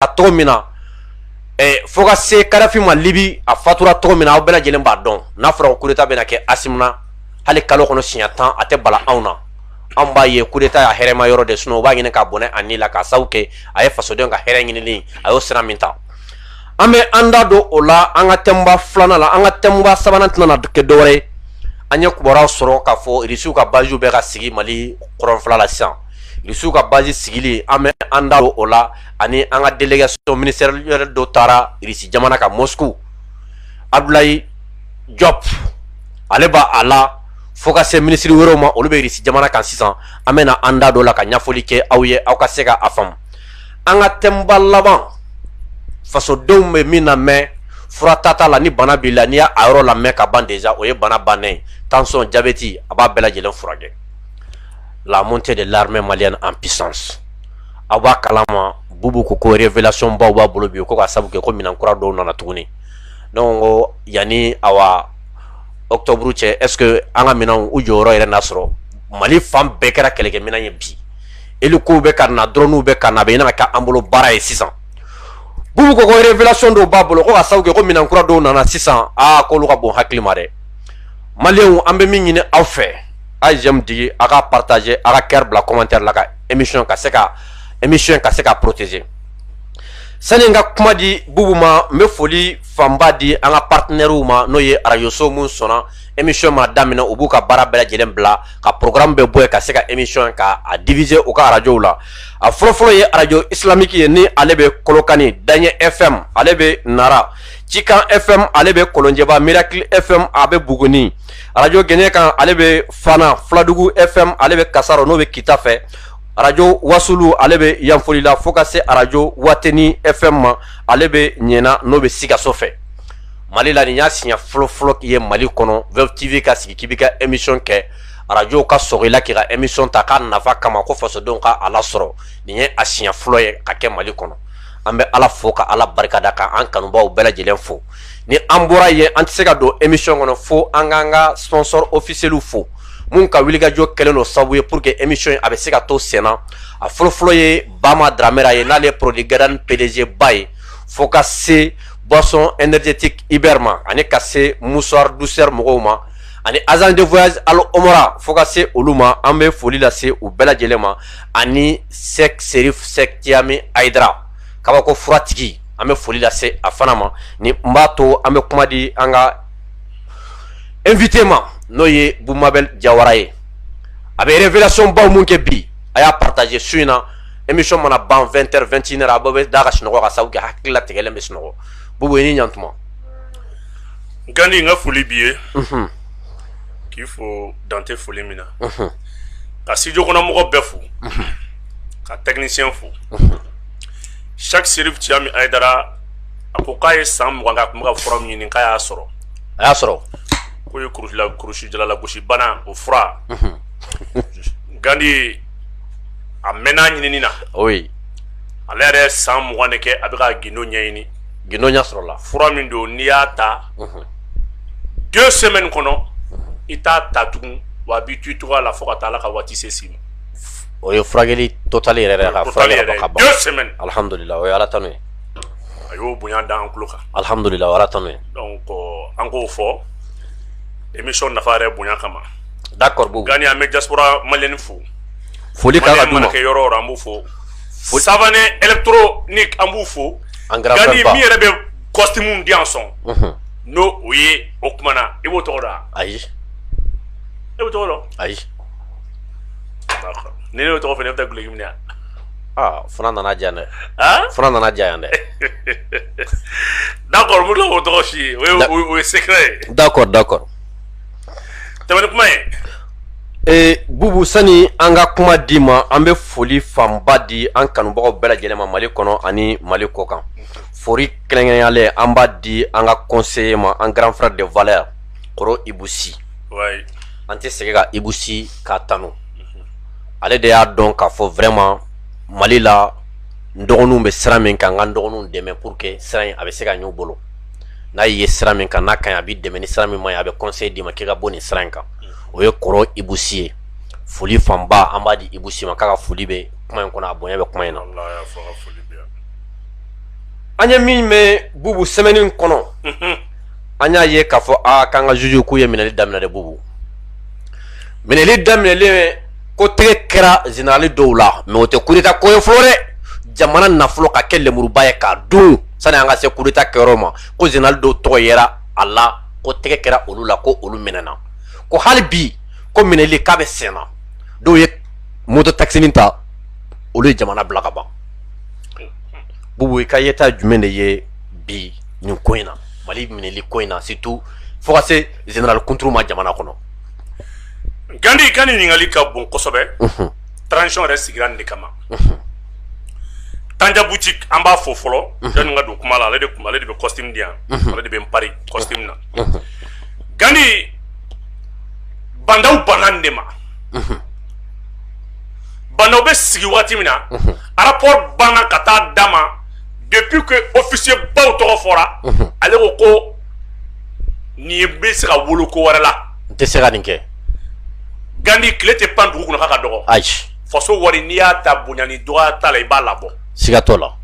A cogo min na fo ka se kadafi ma libi a fatura cogo min aw bɛɛ lajɛlen b'a dɔn n'a fɔra coup d'état bɛna kɛ asimi na hali kalo kɔnɔ siɲɛ tan a tɛ bala anw na anw b'a ye coup d'état y'a hɛrɛma yɔrɔ de sinon u b'a ɲini k'a bɔnɛ a ni la ka sababu kɛ a ye fasodenw ka hɛrɛ ɲini a y'o sira min ta an bɛ an da don o la an ka thème ba filanan la an ka thème ba sabanan tɛna kɛ dɔwɛrɛ ye an ye kibaruya sɔrɔ k'a fɔ irisiw ka base bɛ ka sigi mali kɔrɔnfɛ la sisan irisiw ka base sigili an bɛ an da don o la ani an ka délégation ministérielle dɔ taara irisi jamana kan moscou abdoulaye diop ale b'a a la fo ka se minisiri wɛrɛw ma olu bɛ irisi jamana kan sisan an bɛna an da don o la ka ɲɛfɔli kɛ aw ye aw ka se ka a faamu an ka thème ba laban fasodenw bɛ min lamɛn fura tata la ni bana b'i la n'i y'a yɔrɔ lamɛn ka ban déjà o ye bana bannen tansiyɔn jabeti a b'a bɛɛ lajɛlen furakɛ la montée de l'armée malienne en puissance aw b'a kalama bubu ko ko revelation baw b'a bolo bi ko ka sabu kɛ ko minɛn kura dɔw nana tuguni ne ko yanni awa octobre cɛ est ce que an ka minɛnw u jɔyɔrɔ yɛrɛ na sɔrɔ mali fan bɛɛ kɛra kɛlɛkɛ minɛn ye bi elikow bɛ ka na dɔrɔnuw bɛ ka na a bɛ ɲini ka kɛ an bolo baara ye sisan bubu ko ko revelation dɔw b'a bolo ko ka sabu kɛ ko minɛn kura dɔw nana sisan aa k'olu ka bon hakili ma dɛ maliyɛnw an bɛ min ɲini aw fɛ a ye j'aime digi a ka partager a ka cœur bila commentaire la ka emission ka se ka emission ka se ka protéger sani n ka kuma di bubu ma n bɛ foli fanba di an ka partenaires ma n'o ye arajoso minnu sɔnna emission mana daminɛ u b'u ka baara bɛɛ lajɛlen bila ka programme bɛɛ bɔ yen ka se ka emission ka a diffuser u ka arajow la a fɔlɔfɔlɔ ye arajo islamique ye ni ale bɛ kolokani daɲɛ fm ale bɛ nara cikan fm ale bɛ kolonjɛba miracle fm a bɛ buguni arajo gɛɲɛkan ale bɛ fana fuladugu fm ale bɛ kasaro n'o bɛ kita fɛ arajo wasulu ale bɛ yanfolila fo ka se arajo wateni fm ma ale bɛ ɲɛna n'o bɛ sikaso fɛ mali la nin y'a siɲɛ fɔlɔfɔlɔ ye mali kɔnɔ web tv ka sigi k'i bɛ ka emission kɛ arajow ka sɔgɔ i la k'i ka emission ta k'a nafa kama ko fasodenw ka a lasɔrɔ nin ye a siɲɛ fɔlɔ ye ka kɛ mali kɔnɔ an bɛ ala fo ka ala barikada ka an kanubaw bɛɛ lajɛlen fo ni an bɔra yen an tɛ se ka don emission kɔnɔ fo an k'an ka sponsor officielw fo minnu ka wulikajɔ kɛlen don sabu ye pour que emission in a bɛ se ka to senna a fɔlɔfɔlɔ ye bama dramera ye n'ale ye produit gadan pdg ba ye fo ka se boisson énergétique iber ma ani ka se mouchoir douceur mɔgɔw ma ani agence de voyage al omra fo ka se olu ma an bɛ foli lase u bɛɛ lajɛlen ma ani sɛk serif sɛk jami ayidara kabako furatigi an bɛ foli lase a fana ma ni n b'a to an bɛ kuma di an ka invité ma n'o ye Boumabel Diawara ye a bɛ révélation baw mun kɛ bi a y'a partager su in na émission mana ban 20 heures 21 heures a bɛɛ bɛ da ka sunɔgɔ ka sabu kɛ hakili latigɛlen bɛ sunɔgɔ Boubou i ni ɲantuma Gandi n ka foli b'i ye unhun k'i fo dan tɛ foli min na unhun ka studio kɔnɔ mɔgɔ bɛɛ fo ka technicien fo unhun Cheick Chérif Tiami Haïdara a ko k'a ye san mugan k'a tun bɛ ka fura min ɲini k'a y'a sɔrɔ a y'a sɔrɔ k'o ye kurula kurusi jala lagosi bana o fura gandi a mɛnna ɲinini na oui ale yɛrɛ san mugan de kɛ a bɛ ka gindo ɲɛɲini gindo ɲɛ sɔrɔla fura min don n'i y'a ta deux semaines kɔnɔ i t'a ta tugun wa a b'i to i cogoya la fo ka taa ala ka waati se s'i ma o ye furakɛli total yɛrɛ yɛrɛ ka Total furakɛli yɛrɛ, ka ban deux semaines. alhamdulila o ye ala tanu ye a y'o bonya da an tulo kan alhamdulila o ye ala tanu ye donc an k'o fɔ émission nafa yɛrɛ bonya kama d'accord Boubou Gandi an bɛ diaspora malienne fo foli kan ka Maliyɛn d'u ma mana kɛ yɔrɔ o yɔrɔ an b'u fo Savané électronique an b'u fo An grand Gandi frère min yɛrɛ bɛ costume di an sɔn Unhun. n'o o ye o kumana i b'o tɔgɔ dɔn wa? ayi e b'o tɔgɔ dɔn ayi ni ne y'o tɔgɔ fɔ ne bɛ taa duloki minɛ aa fana nana diya dɛ fana nana diya yan dɛ d'accord mun o tɔgɔ si ye o ye secret ye d'accord d'accord tɛmɛni kuma ye ee bubu sani an ka kuma d'i ma an bɛ foli fanba di an kanubagaw bɛɛ lajɛlen ma mali kɔnɔ ani mali kɔ kan foli kɛrɛnkɛrɛnyalen an b'a di an ka conseiller ma an grand frère de valeur kɔrɔ ibusi an tɛ sɛgɛn ka ibusi k'a tanu ale de y'a dɔn k'a fɔ vraiment mali la n dɔgɔninw bɛ sira min kan n ka n dɔgɔninw dɛmɛ pour que sira in a bɛ se ka ɲ'u bolo n'a y'i ye sira min kan n'a ka ɲi a b'i dɛmɛ ni sira min man ɲi a bɛ conseil d'i ma k'i ka bɔ nin sira in kan o ye kɔrɔ ibusi ye foli fanba an b'a di ibusi ma k'a ka foli bɛ kuma in kɔnɔ a bonya bɛ kuma in na an ye min mɛn bubu semaine kɔnɔ an y'a ye k'a fɔ a k'an ka juge k'u ye minɛli daminɛ de bubu minɛli daminɛlen ko tɛgɛ kɛra général dɔw la mais o tɛ coup d'État ko ye fɔlɔ dɛ jamana nafolo k'a kɛ lemuruba ye k'a dun sani an ka se coup d'État kɛyɔrɔ ma ko général dɔw tɔgɔ yera a la ko tɛgɛ kɛra olu la ko olu minɛna ko hali bi ko minɛli k'a bɛ senna dɔw ye moto taxinin ta olu ye jamana bila kaban bubu i ka yeta jumɛn de ye bi nin ko in na Mali minɛli ko in na surtout fo ka se général kunturu ma jamana kɔnɔ gandi ka ɲininkali ka bon kosɛbɛ transition yɛrɛ sigira nin de kama tanja boutique an b'a fɔ fɔlɔ yani ka don kuma la ale de bɛ costume di yan ale de bɛ n pari costume na gandi bandaw banna nin de ma bandaw bɛ sigi waati min na rapport banna ka taa d'a ma depuis que officier baw tɔgɔ fɔra ale ko ko nin bɛ se ka wolo ko wɛrɛ la n tɛ se ka nin kɛ Gandhi tile tɛ pan dugu kunna k'a ka dɔgɔ ayi faso wari n'i y'a ta bonya ni dɔgɔya t'a la i b'a labɔ siga t'o la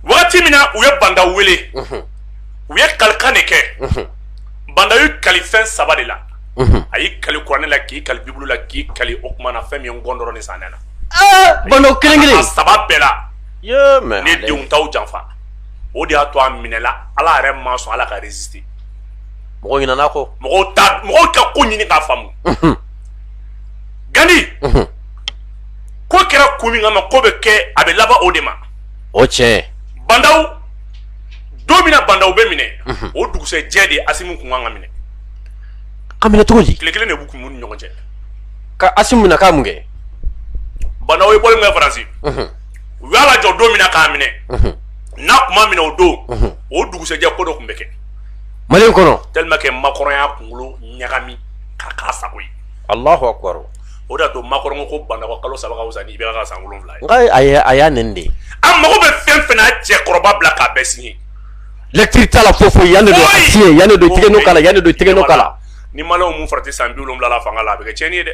wagati min na u ye banda wele u ye kalikan de kɛ banda y'i kali fɛn saba de la a y'i kali kuranɛ la k'i kali bibulu la k'i kali o kuma na fɛn min ye ngɔndɔrɔ ni sanɛ na bandaw kelen kelen saba bɛɛ la ne dun t'aw janfa o de y'a to a minɛla ala yɛrɛ ma sɔn ala ka résister mɔgɔ ɲinana kɔ mɔgɔ ka ko ɲini k'a faamu gandi ko kɛra kun min kama ko bɛ kɛ a bɛ laban o de ma o tiɲɛ bandaw don min na bandaw bɛ minɛ o dugusɛjɛ de ye asimu kun kan ka minɛ ka minɛ cogo di tile kelen de b'u kun ni ɲɔgɔn cɛ ka asimu minɛ k'a mun kɛ bandaw ye bɔli min kɛ faransi u y'a lajɔ don min na k'a minɛ n'a kun ma minɛ o don o dugusɛjɛ ko dɔ tun bɛ kɛ mali kɔnɔ tellement que makɔrɔn y'a kunkolo ɲagami k'a k'a sago ye alahu akbar o de y'a to makɔrɔn ko banda ka kalo saba ka wusa ni IBK ka san wolonwula ye nka a y'a nɛgɛn de a mago bɛ fɛn fɛn na a cɛkɔrɔba bila k'a bɛɛ signé lecture t'a la foyi foyi yan de don a signé yan de don tigɛnɔ k'a la yan de don tigɛnɔ k'a la ni maliyɛnw m'u farati san bi wolonwula la fanga la a bɛ kɛ tiɲɛni ye dɛ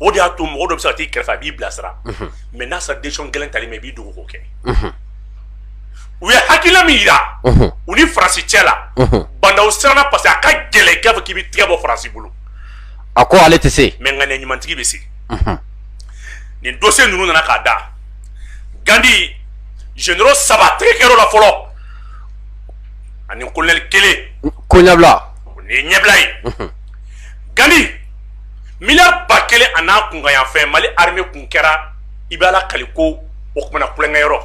o de y'a to mɔgɔ dɔ bɛ se ka t'i kɛrɛfɛ a b'i bilasira mais n'a sera décision gɛlɛn tali ma i b'i dogo k'o kɛ u ye hakilila min yira u ni faransi cɛ la bandaw siranna parce que a ka gɛlɛn k'a fɔ k'i b'i tigɛ bɔ faransi bolo a ko ale tɛ se mais ŋaniya ɲumantigi bɛ se nin dossier ninnu nana k'a da gandi généraux saba tɛgɛ kɛr'o la fɔlɔ ani colonel kelen ko ɲɛbila o nin ye ɲɛbila ye gandi miliyari ba kelen a n'a kunkanyanfɛn mali armée kun kɛra i bɛ ala kali ko o kuma na kɛlɛkɛyɔrɔ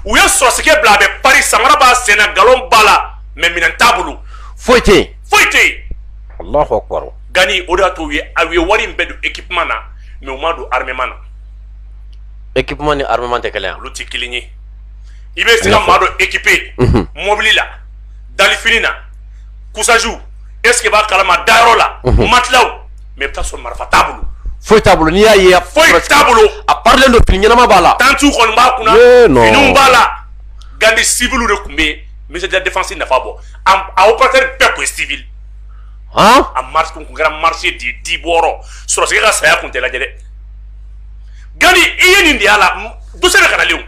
u ye sɔrɔdasikɛ bila a bɛ pari samara b'a sen na galon b'a la mais minɛn t'a bolo foyi tɛ yen foyi tɛ yen alahu akbar gani o de y'a to u ye wari in bɛɛ don équipement na mais u m'a don armement na équipement ni armement tɛ kelen olu tɛ kelen ye i bɛ se ka maa dɔ équiper mɔbili la donfini na couchage est ce que i b'a kalama a dayɔrɔ la matilaw mais i bɛ taa sɔrɔ marifa t'a bolo foyi t'a bolo n'i y'a ye foyi t'a bolo a parilen don fini ɲɛnama b'a la tantiw kɔni b'a kunna finiw b'a la gandi siviliw de tun bɛ yen ministère de la défense nafa bɔ a opérateur bɛɛ tun ye sivili a marché kun kɛra marché de ye di bɔrɔ sɔrɔsikɛ ka saya kun tɛ lajɛ dɛ gandi i ye nin de y'a la dossier bɛ ka na lenw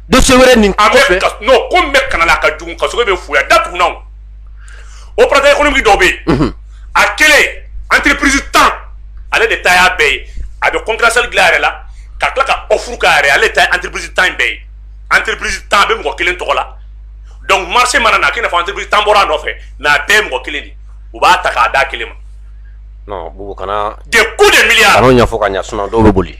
dossier wɛrɛ nin a bɛ ka non ko min bɛ kana la a ka jugu kassogué bɛ fuya datugun na o opérateur économique dɔw bɛ yen a kelen entreprise tan ale de ta y'a bɛɛ ye a bɛ concurrentiel dilan a yɛrɛ la ka tila ka offre k'a yɛrɛ ale de ta ye entreprise tan in bɛɛ ye entreprise tan a bɛ mɔgɔ kelen tɔgɔ la donc marché mana na k'i n'a fɔ entreprise tan bɔra a nɔfɛ mais a bɛɛ ye mɔgɔ kelen de ye u b'a ta k'a d'a kelen ma non bubu kana des coups de milliards kan'o ɲɛfɔ ka ɲɛ sinon dɔw bɛ boli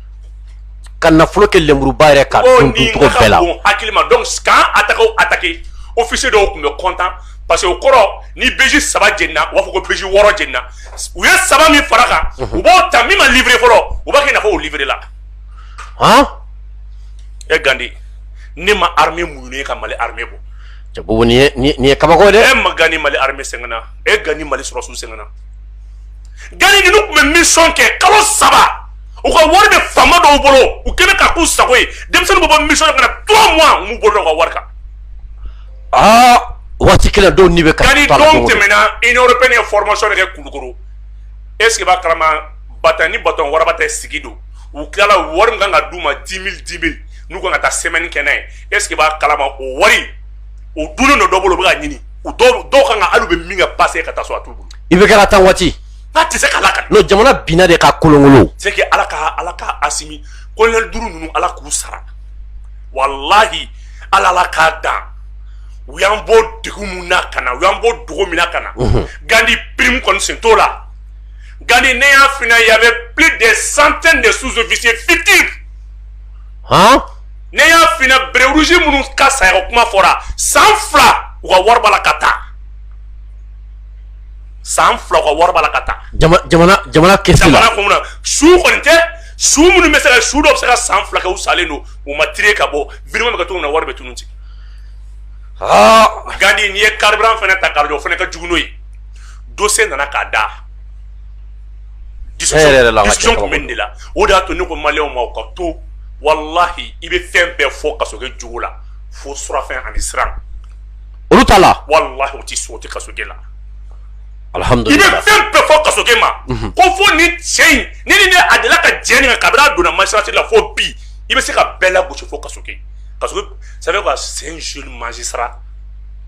ka nafolo kɛ lenburuba yɛrɛ ka dun dun cogo bɛɛ la o nin ka ka bon hakili ma donc k'an attaquer o attaquer officier dɔw tun bɛ content parce que o kɔrɔ ni BJ saba jenina u b'a fɔ ko BJ wɔɔrɔ jenina u ye saba min fara kan u b'o ta min ma livrer fɔlɔ u b'a kɛ i n'a fɔ o livrer la han e Gandi ne ma armée muɲunen ye ka Mali armée bɔ cɛ bubu nin ye nin ye nin ye kabako ye dɛ e ma Gandi Mali armée sɛgɛnna e Gandi Mali sɔrɔsiw sɛgɛnna gandi ninnu tun bɛ mission kɛ kalo saba u ka wari bɛ fama dɔw bolo u kɛlen ka k'u sago ye denmisɛnnin bɛ bɔ mission na ka na trois mois u m'u bolo da u ka wari kan aa waati kelen dɔw ni bɛ ka gandi dɔw tɛmɛna union européenne ye formation de kɛ kulukoro est ce que b'a kalama bataillon ni bataillon waraba tɛ sigi don u tilala wari min kan ka d'u ma dix mille dix mille n'u kan ka taa semaine kɛ n'a ye est ce que b'a kalama o wari o dunnen dɔ dɔ bolo u bɛ ka ɲini u dɔw dɔw kan ka hali u bɛ min kɛ pase ka taa so a t'u bolo IBK la temps waati n'a tɛ se ka lakali non jamana binna de ka kolonkolon c'est que ala ka ala ka asimi kolonɛli duuru ninnu ala k'u sara walahi ala ala k'a dan u y'an bɔ dɛgun min na ka na u y'an bɔ dogo min na ka na gandi prime kɔni sen t'o la gandi ne y'a fina y avait plus de centaines de sous-officiers fictifs ne y'a fina béret rouge minnu ka saya ko kuma fɔra san fila u ka wari b'a la ka taa san fila u ka wari b'a la ka taa jamana kɛsi kɔnɔ su kɔni tɛ su minnu bɛ se ka su dɔ bɛ se ka san fila kɛ u salen don u ma tire ka bɔ virement bɛ ka to na wari bɛ tunun ci gandi n'i ye carburant fana ta k'a lajɛ o fana ka jugu n'o ye dossier nana k'a da nin de la o de y'a to ne ko maliyɛnw ma u k'a to walahi i bɛ fɛn bɛɛ fɔ kassogué jogo la fo surafɛn ani siran olu t'a la walahi o tɛ so o tɛ kassogué la alihamudulila i bɛ fɛn bɛɛ fɔ kassogué ma mhm. ko fo ni cɛ in ni ni ne a delila ka jɛ nin kan kabini a donna magistrature la fo bi i bɛ se ka bɛɛ lagosi fo kassogué parce que ça veut dire quoi c'est un jeune magistrat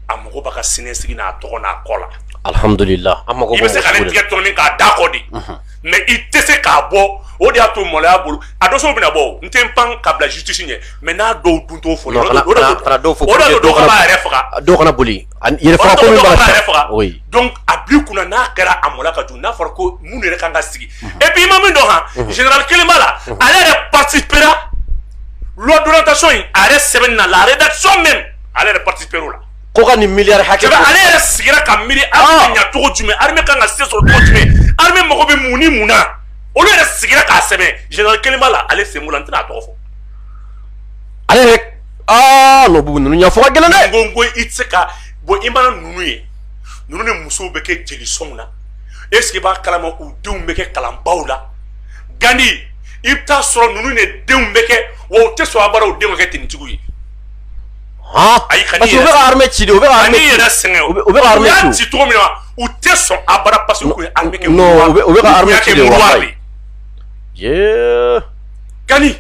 a mago b'a ka siniɲɛsigi n'a tɔgɔ n'a kɔ la alhamdulila an mago i bɛ se ka ne tigɛ tɔni k'a da kɔ de mais i tɛ se k'a bɔ o de y'a to maloya bolo a dossier bɛna bɔ n tɛ n pan ka bila justice ɲɛ mais n'a dɔw dun t'o fɔ o de y'a to dɔw fana b'a yɛrɛ faga dɔw kana boli yɛrɛ faga ko min b'a yɛrɛ faga donc a bil'i kunna n'a kɛra a maloya ka jugu n'a fɔra ko minnu yɛrɛ kan ka sigi et puis i ma min dɔn han général kelen b'a la ale yɛrɛ participera loi d'orientation in a yɛrɛ sɛbɛnni na la rédaction même ale yɛrɛ participera o la ko ka nin miliyari hakɛ ale yɛrɛ sigira ka miiri armée ɲa cogo jumɛn armée kan ka se sɔrɔ cogo jumɛn armée mago bɛ mun ni mun na olu yɛrɛ sigira k'a sɛbɛn général kelen b'a la ale sen b'o la n tɛna a tɔgɔ fɔ ale yɛrɛ aa non Boubou ninnu ɲɛfɔ ka gɛlɛn dɛ n ko i tɛ se ka bɔn i mana ninnu ye ninnu de musow bɛ kɛ jelisɔnw na est ce que i b'a kalama u denw bɛ kɛ kalanbaw la Gandhi i bɛ taa sɔrɔ ninnu de denw bɛ kɛ wa u tɛ sɔn abada u denw ka kɛ tenitigiw ye Han ayi ka parce que u bɛ ka armée ci de u bɛ ka armée ci kan'i yɛrɛ sɛgɛn o u bɛ ka armée ci o u y'a ci cogo min na u tɛ sɔn abada parce que u tun ye armée kɛ non u bɛ u bɛ ka armée ci de walayi yee Gandhi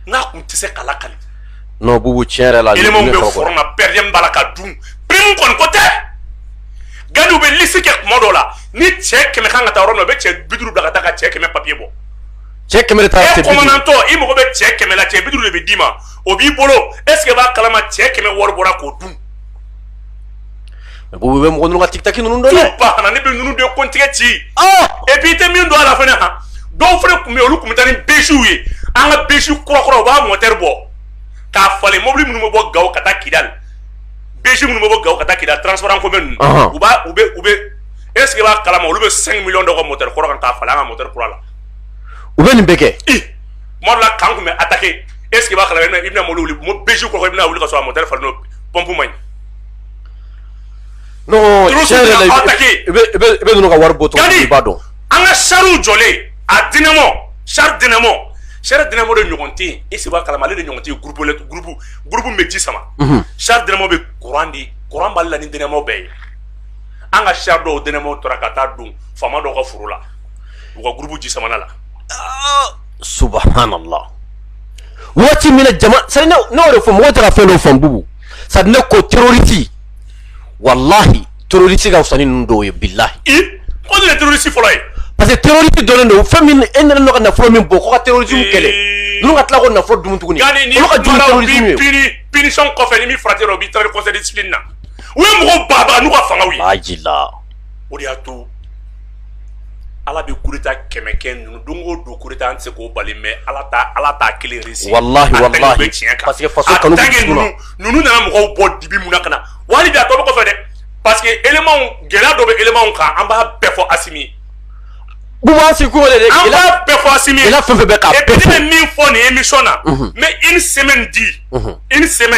n'a tun tɛ se k'a lakali non Boubou tiɲɛ yɛrɛ la éléments bɛ front na per diem b'a la ka dun prime kɔni ko tɛ Gandhi u bɛ liste kɛ tuma dɔw la ni cɛ kɛmɛ kan ka taa yɔrɔ min na u bɛ cɛ bi duuru bila ka taa ka cɛ kɛmɛ papier bɔ cɛ kɛmɛ de taara cɛ bi duuru e commandant i mago bɛ cɛ kɛmɛ la cɛ bi duuru de bɛ d'i ma o b'i bolo est ce que b'a kalama cɛ kɛmɛ wari bɔra k'o dun Boubou bɛ mɔgɔ ka titaki ninnu dɔn dɛ ba kana ne bɛ ninnu de kɔntigɛ ci et puis i tɛ min dɔn a la fana han dɔw fana tun bɛ yen olu tun bɛ taa ni BJw ye an ka BJ kurakura u b'a mɔtɛri bɔ k'a falen mobili minnu bɛ bɔ gawo ka taa kidali BJ minnu bɛ bɔ gawo ka taa kidali transport en commun ninnu u b'a u bɛ u bɛ est ce que b'a kalama olu bɛ 5 millions d'u ka mɔtɛri kɔrɔ kan k'a falen an ka mɔtɛri kura la u bɛ nin bɛɛ kɛ kuma dɔ la camp tun bɛ attaquer est ce que b'a kalama i bɛna mobili wuli BJ kurakura i bɛna wuli ka sɔrɔ a mɔtɛri falenna o pɔnpu man ɲi non tiɲɛ yɛrɛ la i bɛ ninnu ka wari bɔ tɔgɔ i b'a dɔn an ka sariw jɔlen a dinɛmɔ sari dinɛmɔ sari dinɛmɔ de ɲɔgɔn tɛ yen est ce que b'a kalama ale de ɲɔgɔn tɛ yen gurupu gurupu gurupu bɛ ji sama mhm. sari dinɛmɔ bɛ kuran di kuran b'ale la ni dinɛmɔ bɛɛ ye an ka sari dɔw dinɛmɔ tara ka taa don faama dɔw ka foro la u ka gurupu ji samana la subhanallah waati min na jama sari ne y'o de fɔ mɔgɔ tɛ ka fɛn dɔ faamu Boubou sa ne ko tororisi walahi tororisi ka fisa ni ninnu dɔw ye bilahi o de ye tororisi fɔlɔ ye parce que tororisi dɔnnen don fɛn min e nana n'o ka nafolo min bɔ ko ka terrorisme kɛlɛ ninnu ka tila k'o nafolo dun tuguni olu ka jugu ni tororisiw ye pini pinisɔn kɔfɛ ni min farati la o b'i taara conseil de discipline na u ye mɔgɔ baba n'u ka fangaw ye a jila o de y'a to Ala bɛ kuruta kɛmɛkɛ ninnu don o don kuru an se k'o bali mɛ ala ala taa kelen tiɲɛ nana mɔgɔw bɔ dibi mun ka na wali a to kɔfɛ dɛ pa que gɛlɛya dɔ bɛ emaw kan an b'a bɛɛ fɔ a fɔ min fɔ nin emi na mɛ i ni sɛmɛ di i ni sɛmɛ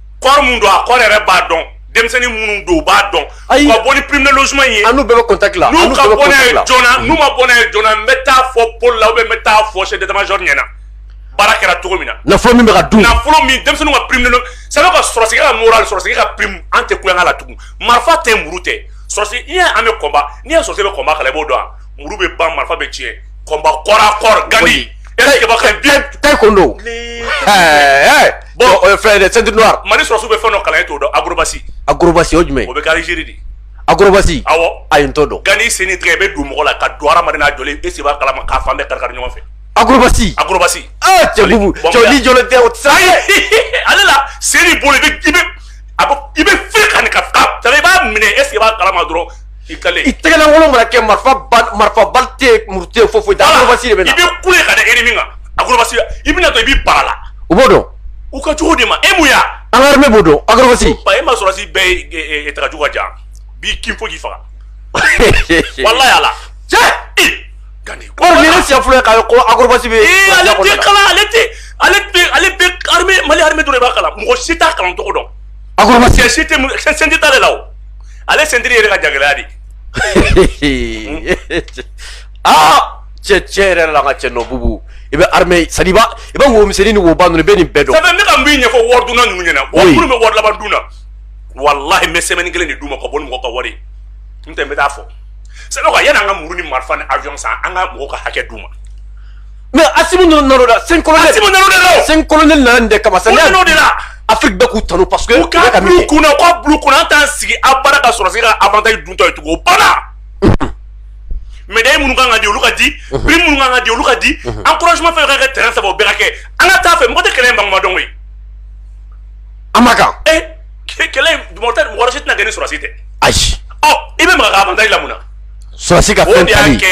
corps mun don a corps yɛrɛ b'a dɔn denmisɛnnin minnu don u b'a dɔn Ayi. ka bɔ ni prime de logement in ye An n'u bɛɛ bɛ contact la. n'u ka bɔ n'a ye joona n'u ma bɔ n'a ye joona n bɛ taa fɔ pôle la ou bien n bɛ taa fɔ chef d'état major ɲɛna baara kɛra cogo min na Nafolo min bɛ ka dun. nafolo min denmisɛnninw ka prime de logement c'est vrai que sɔrɔsi ka moral sɔrɔsi ka prime an tɛ kulonkɛ la tugun marifa tɛ muru tɛ sɔrɔsi n'i y'a ye an bɛ combat n'i y'a ye sɔrɔsi bɛ combat kalan i b'o dɔn wa muru bɛ ban marifa bɛ tiɲɛ combat corps à corps Gandhi est-ce i b'a kɛ bien taekwondo bon fɛn dɛ ceinture noire Mali sɔrɔsiw bɛ fɛn dɔ kalan e t'o dɔn acrobatie acrobatie o jumɛn o bɛ kɛ Algérie de acrobatie awɔ ayi n t'o dɔn Gandhi sen ni tɛgɛ i bɛ don mɔgɔ la ka don hadamaden n'a jɔlen est-ce i b'a kalama k'a fan bɛɛ karikari ɲɔgɔn fɛ acrobatie acrobatie aa cɛ bubu cɛ ni jɔlen tɛ o tɛ se ka kɛ ale la sen ni bolo i bɛ i bɛ a bɛ i bɛ fili ka nin ka ka i b'a minɛ est-ce que i b'a kalama dɔrɔn i kale i tɛgɛlankolon mana kɛ marifa ba- marifa bali tɛ yen, muru tɛ yen, foyi foyi tɛ yen, acrobatie de bɛ na i bɛ kule ka da ennemi kan acrobatie i bɛna to i b'i bara la u b'o dɔn u ka cogo de ma e mun y'a an ka armée b'o dɔn acrobatie ba e ma sɔrɔsi bɛɛ ye- ye ye- ye tagajugu ka jan b'i kin fo k'i faga walayi Ala cɛ Gandhi ko nin ye ne siɲɛ fɔlɔ ye k'a ye ko acrobatie bɛ Ee, ale tɛ kalan ale tɛ ale bɛ ale bɛ armée Mali armée dɔrɔn de b'a kalan mɔgɔ si t'a kalan cogo dɔn acrobatie sɛ si tɛ mu- sɛ ceinture t'ale la o ale ceinture yɛrɛ ka jagɛlɛya de aa cɛ cɛ yɛrɛ la an ka cɛ nɔ bubu i bɛ armée c'est à dire i b'a i bɛ wo misɛnnin ni woba ninnu i bɛ nin bɛɛ dɔn ça fait ne ka min ɲɛfɔ wari dunna ninnu ɲɛna wari minnu bɛ wari laban dun na walahi n bɛ semaine kelen de d'u ma ka bɔ ni mɔgɔ ka wari ye n tɛ n bɛ taa fɔ ça fait que yanni an ka muru ni marifa ni avion san an ka mɔgɔw ka hakɛ d'u ma mais Asimi ninnu nana o la 5 colonel Asimi nana o de la 5 colonel nana nin de kama sani o nana o de la afiriki bɛɛ k'u tanu parce que u ka bulu kunna u ka bulu kunna an t'an sigi abada ka sɔrɔsi ka avantage duntɔ ye tugun o banna médaille minnu kan ka di olu ka di prime minnu kan ka di olu ka di encouragement fɛn fɛn ka kɛ terrain sanfɛ o bɛɛ ka kɛ an ka taa fɛ mɔgɔ tɛ kɛlɛ in ban tuma dɔn koyi an ma kan ee kɛlɛ in mɔgɔ tɛ mɔgɔ si tɛna kɛ ni sɔrɔsi tɛ ayi ɔ i bɛ maga ka avantage la mun na sɔrɔsi ka fɛn tali o de y'a kɛ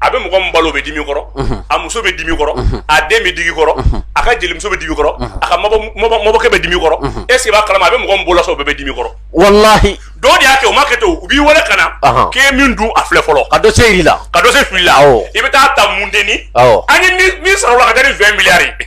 a bɛ mɔgɔ min balo bɛ dimi kɔrɔ a muso bɛ dimi kɔrɔ a den bɛ digi kɔrɔ a ka jelimuso bɛ dimi kɔrɔ a ka mabɔkɛ bɛ dimi kɔrɔ est-ce i b'a kalama a bɛ mɔgɔ min balo sa o bɛɛ bɛ dimi kɔrɔ walahi dɔw de y'a kɛ u ma kɛ to u b'i wele ka na Ɔhɔn. k'e min dun a filɛ fɔlɔ ka dossier yir'i la ka dossier fil'i la Awɔ. i bɛ taa ta mun denni Awɔ. an ye min- min sɔrɔ o la ka kɛ ni 20 miliyari ye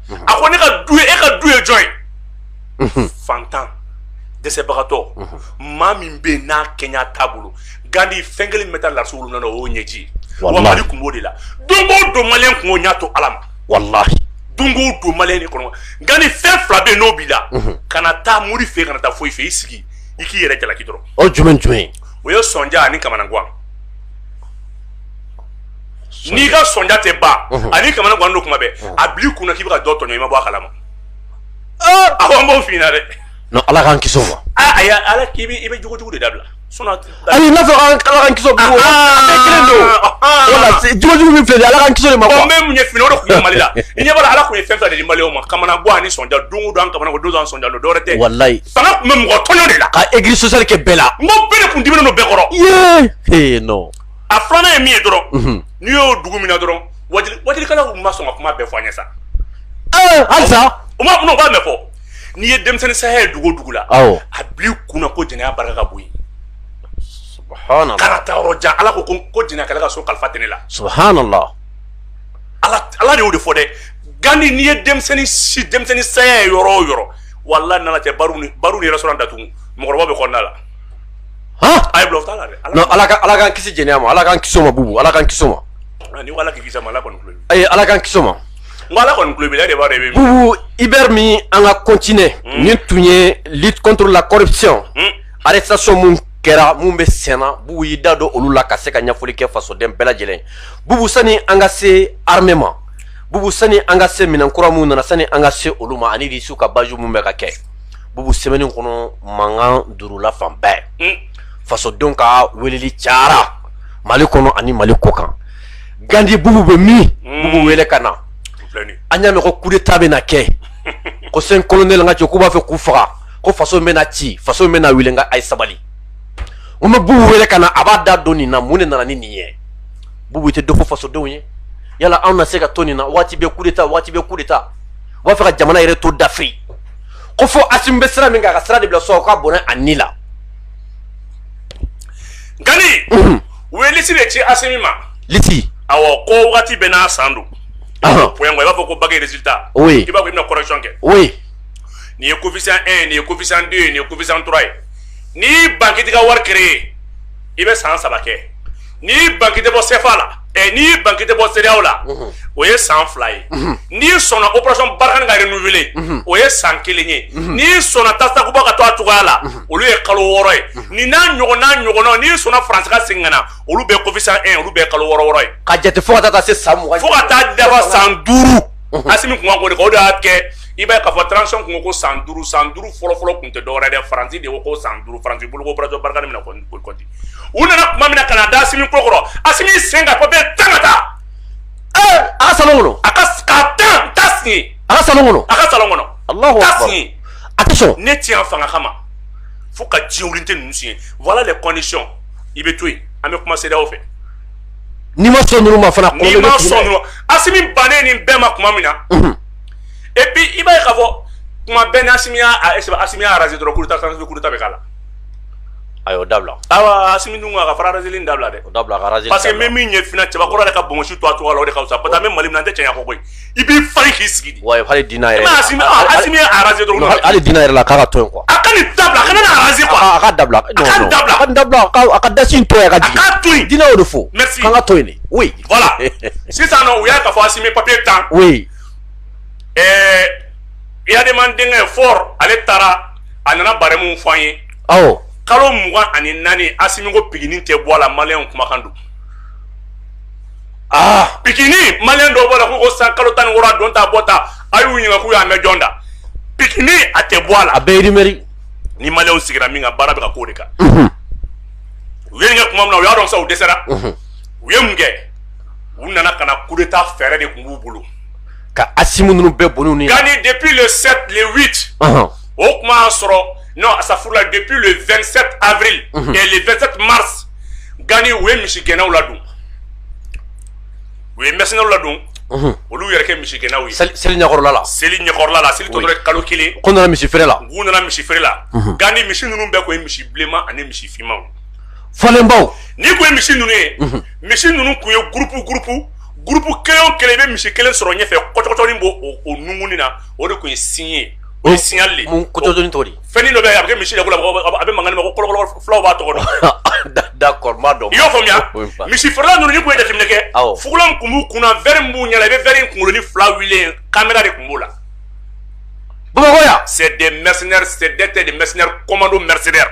a ko ne ka du ye e ka du ye jɔn ye mhm. fantan dɛsɛbagatɔ mhm. maa min bɛ yen n'a kɛɲɛ t'a bolo gandi fɛn kelen min bɛ taa lase wolo na o y'o ɲɛji wa mali kun b'o de la don o don maliyɛn kun y'o ɲɛ to ala ma walahi don o don maliyɛn de kɔnɔ gandi fɛn fila bɛ yen n'o b'i la mhm. kana taa mori fɛ kana taa foyi fɛ i sigi i k'i yɛrɛ jalaki dɔrɔn o jumɛn jumɛn o ye sɔnja ani kamanagwan n'i ka sonja tɛ ba ani kamalen gan don kuma bɛ a bi kun k'i bɛ ka dɔ tɔn i ma bɔ a kalama a an b'o fna dɛ ala k'an ki ma a y' ala k'i i bɛ jugujugu de dabila n'a donjugu min fɛ ala ki ma bɛ mun ye fini dɔ tun mali la i ɲɛ ala tun ye fɛn fɛ ni mali ma kamana gan ni sonja don don ka don sonja don dɔwɛrɛ tɛ wali tun bɛ mɔgɔ tɔnɔn de la ka egi sɔsari kɛ bɛɛ la n bɛɛ tun di don bɛɛ kɔrɔ a filanan ye min ye dɔrɔn mhm. n'i y'o dugu min na dɔrɔn wajilikɛlaw ma sɔn ka kuma bɛɛ fɔ an ye sa eh, halisa o ma n'o b'a mɛn fɔ n'i ye denmisɛnnin saya ye dugu o dugu la a bil'i kunna ko jɛnɛya barika ka bon yen subhanallah kana taa yɔrɔ jan ala ko ko jɛnɛyakɛla ka so kalifa tɛ ne la subhanallah ala ala de y'o de fɔ dɛ gandi n'i ye denmisɛnnin si denmisɛnnin saya ye yɔrɔ o yɔrɔ walahi nana cɛ bar ni restaurant datugu mɔgɔkɔrɔba bɛ kɔnɔna la A ye bila o t'a la ala ala k'an kisi jɛnɛya ma ala k'an kisi o ma bubu ala k'an kisi o ma ala ki ala k'an kisi o ma ala kɔni bubu i bɛ min an ka continuer hmm. nin tun ye lutte contre la corruption hmm. arrestation minnu kɛra minnu bɛ senna bubu y'i da don olu la ka se ka ɲɛfɔli kɛ fasoden bɛɛ lajɛlen bubu sani an ka se armée ma bubu sani an ka se minɛn kura minnu nana sani an ka se olu ma ani di su ka baju minnu bɛ ka kɛ bubu semaine in kɔnɔ mankan durula fan bɛɛ hmm. fasodenw ka weleli cayara mali kɔnɔ ani mali kɔ kan gandi bubu bɛ min hmm. bubu wele ka na an y'a mɛn ko kudeta bɛ na kɛ ko cinq colonels n ka cɛ k'u b'a fɛ k'u faga ko faso bɛ na ci faso bɛ na wuli nka a ye sabali n bɛ bubu wele ka na a b'a da don nin na mun de nana ni nin ye bubu i tɛ dɔ fɔ fasodenw ye yala anw na se ka to nin na waati bɛɛ kudeta waati bɛɛ kudeta u b'a fɛ ka jamana yɛrɛ to dafiri ko fo Asimi bɛ sira min kan a ka sira de bila sɔrɔ ka bɔnɛ a ni la gandi u ye lisi de ci Asimi ma lisi awɔ ko wagati bɛɛ n'a san don point i b'a fɔ ko bac résultat oui i b'a fɔ i bɛna correction kɛ oui nin ye coefficient 1 ye nin ye coefficient 2 ye nin ye coefficient 3 ye n'i ban k'i t'i ka wari créer i bɛ san saba kɛ n'i y'i ban k'i tɛ bɔ CFA la ɛ n'i y'i ban k'i tɛ bɔ CEDEAO la o ye san fila ye n'i sɔnna operation Barkhane ka renouveler o ye san kelen ye n'i sɔnna Task Takuba ka to a cogoya la olu ye kalo wɔɔrɔ ye nin n'a ɲɔgɔn n'a ɲɔgɔnnaw n'i sɔnna France ka segin ka na olu bɛɛ coefficient un olu bɛɛ ye kalo wɔɔrɔ wɔɔrɔ ye ka jate fo ka taa se san mugan fo ka taa dafa san duuru. unhun, Asimi kun ka ko de kɛ, o de y'a kɛ, i b'a ye k'a fɔ transition kun ko ko san duuru, san duuru fɔlɔ-fɔlɔ kun tɛ dɔwɛrɛ dɛ, Faransi de ko ko san duuru, Faransi bolo ko operation Barkhane bɛna kɔni boli kɔti, u nana kuma min na ka na da Asimi kɔkɔrɔ, Asimi y'i sen ka papier tan ka taa, ee, a ka salon kɔnɔ, a ka k'a tan, t'a siɲɛ, a ka salon kɔnɔ, a ka salon kɔnɔ, Alahu ta akbar, siɲɛ, a tɛ sɔn, ne tɛ yan fanga kama, fo ka diɲɛwulite ninnu siɲɛ, voilà les conditions i bɛ to yen, an bɛ kuma CEDEAO fɛ. n'i ma sɔn ninnu ma fana n'i ma sɔn ninnu ma Asimi bannen nin bɛɛ ma kuma min na et puis i b'a ye k'a fɔ kuma bɛɛ ni Asimi y'a Asimi y'a raser dɔrɔn coup d'Etat coup d'Etat bɛ k'a la a y'o dabila awa Asimi dun ko a ka fara raser li in dabila dɛ o dabila a ka raser li dabila parce que n bɛ min ye fana Cɛbakɔrɔ yɛrɛ ka bonbonsi to a cogoya la o de ka fisa parce que an bɛ Mali min na an tɛ cɛɲa kɔ koyi i b'i fa k'i sigi di wa hali diinɛ yɛrɛ hali diinɛ yɛrɛ la k'a ka to yen quoi a ka nin dabila a kana n'a raser quoi a ka dabila a ka dabila a ka dabila a ka dasi in to yen a ka k'a to yen diinɛ y'o de fɔ merci k'an ka to yen de oui voilà sisan nɔ u y'a ka fɔ asimi papier tan oui Eyadema denkɛ Faure ale taara a nana barɛmu fɔ an ye awɔ kalo mugan ani naani asimi ko pikini tɛ bɔ a la maliyɛnw kumakan don aa pikini maliyɛn dɔw b'a la k'u ko san kalo tan ni wɔɔrɔ a don ta a bɔ ta a y'u ɲininka k'u y'a mɛn jɔn da pikini a tɛ bɔ a la a bɛɛ ye rumeur ni maliyɛnw sigira min kan baara bɛ ka k'o de kan u ye nin kɛ kuma min na u y'a dɔn sa u dɛsɛra u ye mun kɛ u nana ka na coup d'état fɛɛrɛ de kun b'u bolo ka asimi ninnu bɛɛ bɔn'u ni gani depuis le 7 le 8 o kuma y'a sɔrɔ non astafurula depuis le 27 avril mhm. et le 27 mars gani u ye misigɛnnaw ladon u ye mercenaires ladon mhm. olu yɛrɛ kɛ misigɛnnaw ye seli ɲɛkɔrɔla la seli ɲɛkɔrɔla la seli tɔ tora kalo kelen k'u nana misi feere la u nana misi feere la mhm. gani misi ninnu bɛɛ kun ye misi bilenman ani misi finmanw falenbaw n'i kun ye misi ninnu ye misi ninnu kun ye gurupu gurupu gurupu kelen o kelen i bɛ misi kelen sɔrɔ ɲɛfɛ kɔcɔkɔcɔnin b'o o nungunni na o de kun ye signe ye O ye signal kojni to fɛn dɔ bɛ a bɛ misi la a bɛ mankan ko fulaw b'a tɔgɔ da dɔn i y'a faamuya misi feerela ninnu n'i kun ye jateminɛ kɛ fugulan kun b'u kun verre min b'u ɲɛ la i bɛ verre kunkolonin fila wili caméra de kun b'o la bamakɔ c'est mercenaires c'était des mercenaires commando mercenaires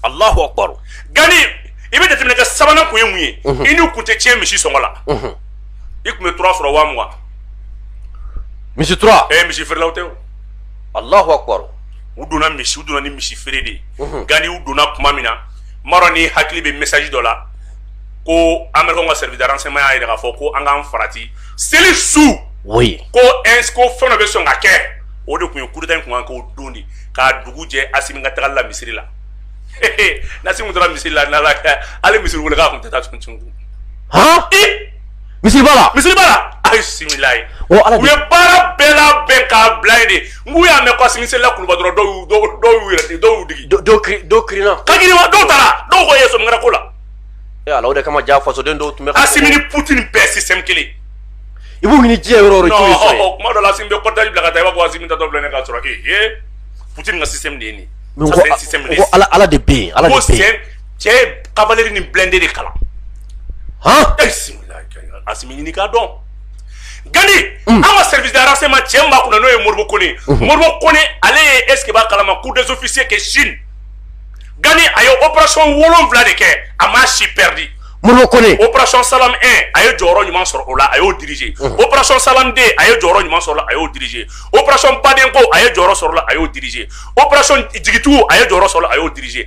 alahu akbar gani i bɛ jateminɛ kɛ sabanan kun ye mun ye i n'u kun tɛ tiɲɛ misi sɔngɔ la i kun bɛ tura sɔrɔ waga misi tura ɛ misi feerelaw tɛ alahu akbar u donna misi u donna ni misi feere de ye mhm. gani u donna kuma min na maro n'i hakili bɛ message dɔ la ko américain ka service de renseignement y'a yira k'a fɔ ko an k'an farati seli su oui ko ins ko fɛn dɔ bɛ sɔn ka kɛ o de kun ye coup d'état in kun kan k'o don de k'a dugu jɛ asimi ka tagali la misiri la n'asimi taara misiri la n'ala hali misiri wele k'a kun tɛ taa tun tun han misiriba la misiriba la ayi similayi u ye baara bɛɛ labɛn k'a bila yen de nk'u y'a mɛn ko asimi selila kuluba dɔrɔn dɔw y'u dɔw y'u yɛrɛ de dɔw y'u digi dɔw kiri dɔw kirinna ka kirima dɔw taara dɔw ko ye sɔmikara ko la e ala o de kama ja fasoden dɔw tun bɛ asimi ni putin bɛɛ système kelen i b'u ɲini diɲɛ yɔrɔ o yɔrɔ jɔn ye sɔrɔ ye kuma dɔ la asimi bɛ cortège bila ka taa i b'a fɔ asimi taatɔ filɛ nin k'a sɔrɔ e ye putin ka système de ye nin ye ko ala de bɛ yen ala de bɛ yen cɛ ye cavalerie ni blindé de kalan han asimi ɲini k'a dɔn gani an ka service de renseignement cɛ min b'a kunna n'o ye modibo kone ye modibo kone ale ye est ce que b'a kalama cours des officiers kɛ chine gani a ye opération wolonwula de kɛ a m'a si perdu modibo kone opération salam 1 a ye jɔyɔrɔ ɲuman sɔrɔ o la a y'o diriger opération salam 2 a ye jɔyɔrɔ ɲuman sɔrɔ o la a y'o diriger opération badenko a ye jɔyɔrɔ sɔrɔ o la a y'o diriger opération jigitugu a ye jɔyɔrɔ sɔrɔ o la a y'o diriger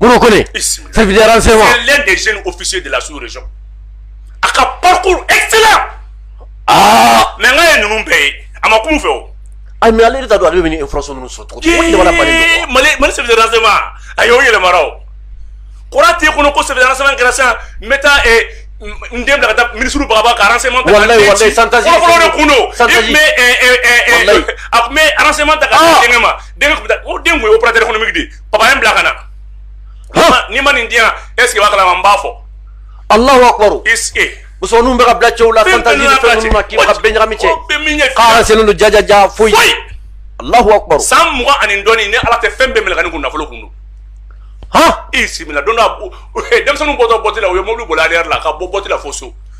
Modibo Kone, service de renseignement, c'est l'un des jeunes officiers de la sous-région a ka parcours excellent ah, mais nka a ye ninnu bɛɛ ye a ma kuma u fɛ o. ayi mais ale yɛrɛ t'a dɔn ale bɛ nin information ninnu sɔrɔ cogo di, o ye jamana bannen don Yee, mali mali service de renseignement a y'o yɛlɛmara o kɔrɔ t'e kɔnɔ ko service de renseignement kɛra sisan n bɛ taa eh, n n den bila ka taa minisiriw bagaba ka renseignement ta ka Walayi, den walayi, ci. chantage, fɔlɔfɔlɔ de kun don i chantage. tun bɛ eh, eh, eh, eh, Walayi. a tun bɛ renseignement ta ka Ah. di denkɛ ma denkɛ tun bɛ taa o den tun ye opérateur économique de ye Papa ye n bila ka na. N'i ma nin di yan, est ce que i b'a kalama n b'a fɔ. Alahu akibaru. C'est que. Musomaninw bɛ ka bila cɛw la chantage ni fɛn ninnu na k'i ka bɛɛ ɲagami cɛ. K'a renseignement don jajaja foyi. Foyi. Alahu akibaru. San mugan ani dɔɔni ni Ala tɛ fɛn bɛɛ mɛlɛkani kun nafolo kun don. Han! I bisimila don dɔ denmisɛnninw bɔtɔ boîte la u ye mobili boli arrière la ka bɔ boîte la fo so.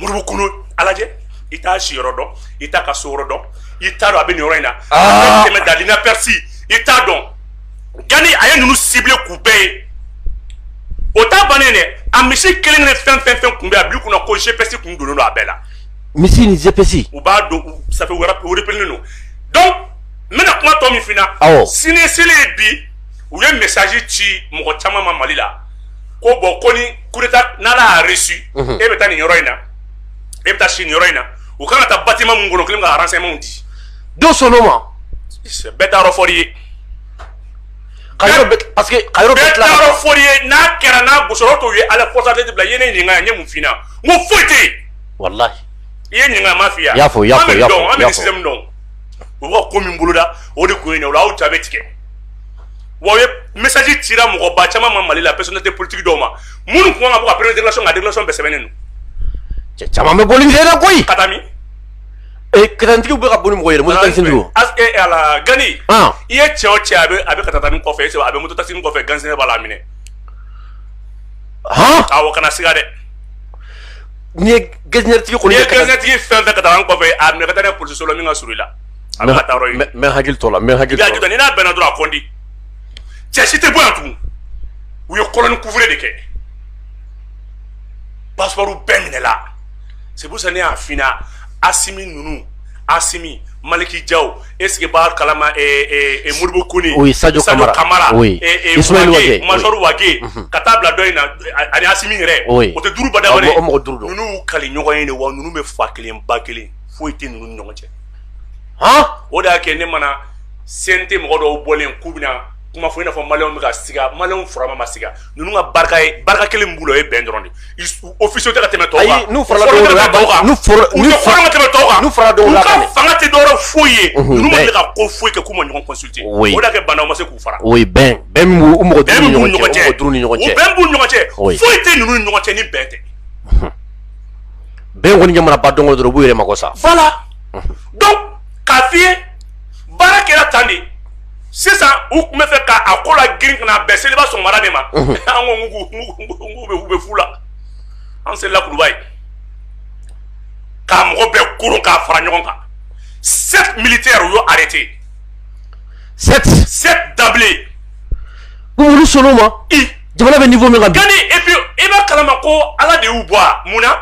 modibo kone a lajɛ i t'a si yɔrɔ dɔn i t'a ka so yɔrɔ dɔn i t'a dɔn a bɛ nin yɔrɔ in na a bɛ tɛmɛ dans l'inaperçu i t'a dɔn gani a ye ninnu ciblé k'u bɛɛ ye o ta bannen dɛ a misi kelen ni fɛn fɛn fɛn tun bɛ a bil'i kunna ko GPS tun donnen don a bɛɛ la misi ni GPS u b'a dɔn ça fait u repérélen don donc n bɛna kuma tɔ min f'i ɲɛna sini seli ye bi u ye message ci mɔgɔ caman ma mali la ko bon ko ni coup d'état n'a y'a réussi e bɛ taa nin yɔrɔ in na e bɛ taa si nin yɔrɔ in na u kan ka taa bâtiment mun kɔnɔ kelen ka renseignement di don so ma bɛɛ t'a yɔrɔ fɔ i ye ka fɔ ye n'a kɛra n'a bo tɔw ye ala kɔsa de bila i ye ne ɲininka n ye mun f'i ɲɛna n ko foyi tɛ yen walahi i ye n ɲininka n m'a f'i ye an bɛ système dɔn u ka ko min boloda o de kun ye nin ye o la aw ja bɛ tigɛ wa u ye message cira mɔgɔ ba caman ma mali la personnalité politique dɔw ma minnu tun kan ka bɔ ka première déclaration kɛ déclaration bɛɛ sɛbɛnnen don cɛ caman bɛ boli na koyi ka taa min katigi bɛ ka boli mɔgɔ yɛrɛ ala gani i ye cɛ o cɛ a bɛ a bɛ ka taa ni kɔfɛ a bɛ moto taxi kɔfɛ gansɛnɛ b'a la minɛ aw kana siga dɛ n'i ye gansɛnɛtigi kɔni ye gansɛnɛtigi fɛn fɛn ka taa kɔfɛ a minɛ ka taa polisiso la min ka surun i la A bɛ taa mais hakili t'o la mais hakili n'a bɛnna dɔrɔn a kodi cɛ si tɛ bɔ yan tugun u ye kolonin couvre de kɛ passeport bɛɛ minɛla c'est pour ça ne y'a f'i ɲɛna Assimi ninnu Assimi Malick Diaw est ce que i b'a kalama Modibo Koné oui Sadio Camara Camara major Wagué ka taa bila dɔ in na ani Assimi yɛrɛ o tɛ duuruba mɔgɔ duuru ninnu kali ɲɔgɔn ye de wa ninnu bɛ fa kelen ba kelen foyi tɛ ninnu ɲɔgɔn cɛ o de y'a kɛ ne mana sen tɛ mɔgɔ dɔw bɔlen k'u bɛna kuma fɔ i n'a fɔ mali bɛ ka siga mali furama ma siga ninnu ka barika ye barika kelen bolo ye bɛn dɔrɔn u si tɛ ka tɛmɛ tɔw kan tɛmɛ tɔw kan fanga tɛ dɔ rɔ foyi ye ninnu man kan ka ko foyi kɛ k'u ma ɲɔgɔn consulter o de y'a kɛ Bah N'Daw ma se k'u fara oui bɛn bɛ mɔgɔ duuru nin ɲɔgɔn cɛ bɛn b'u ɲɔgɔn cɛ foyi tɛ ninnu ɲɔgɔn cɛ ni bɛn tɛ bɛn kɔni jamana ba dɔn dɔrɔn b'u yɛrɛ mako sa voilà donc k'a f'i ye baara kɛra tan de c'est ça u tun bɛ fɛ k'a ko lagirin ka na bɛn seliba sɔgɔmada de ma an ko k'u bɛ u bɛ fu la an seli la Kuluba yen k'a mɔgɔ bɛɛ kuru k'a fara ɲɔgɔn kan sept militaires u y'o arrêté sept sept d'emblée olu sɔn'o ma i jamana bɛ niveau min kan gani et puis i b'a kalama ko ala de y'u bɔ a mun na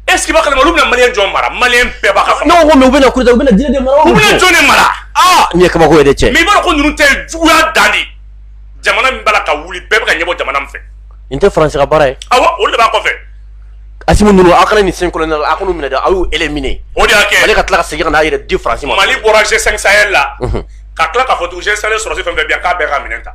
est ce que i b'a kalama olu bɛna maliyɛn jɔn mara maliyɛn bɛɛ b'a ka ne ko ko mais u bɛna coup d'État u bɛna jinɛ de mara u bɛna jɔn de mara aa nin ye kabako ye dɛ cɛ mais i b'a dɔn ko ninnu tɛ juguya dan de jamana min b'a la ka wuli bɛɛ bɛ ka ɲɛbɔ jamana min fɛ nin tɛ faransi ka baara ye awa olu de b'a kɔfɛ Assimi ninnu aw kana nin cinq colonels a kan'olu minɛ dɛ aw y'u éliminer o de y'a kɛ mali ka tila ka segin ka n'a yɛrɛ di faransi ma mali bɔra g5 sahel la ka tila k'a fɔ tugun g5 sɔrɔsi fɛn fɛn bɛ yan k'a bɛɛ ka minɛn ta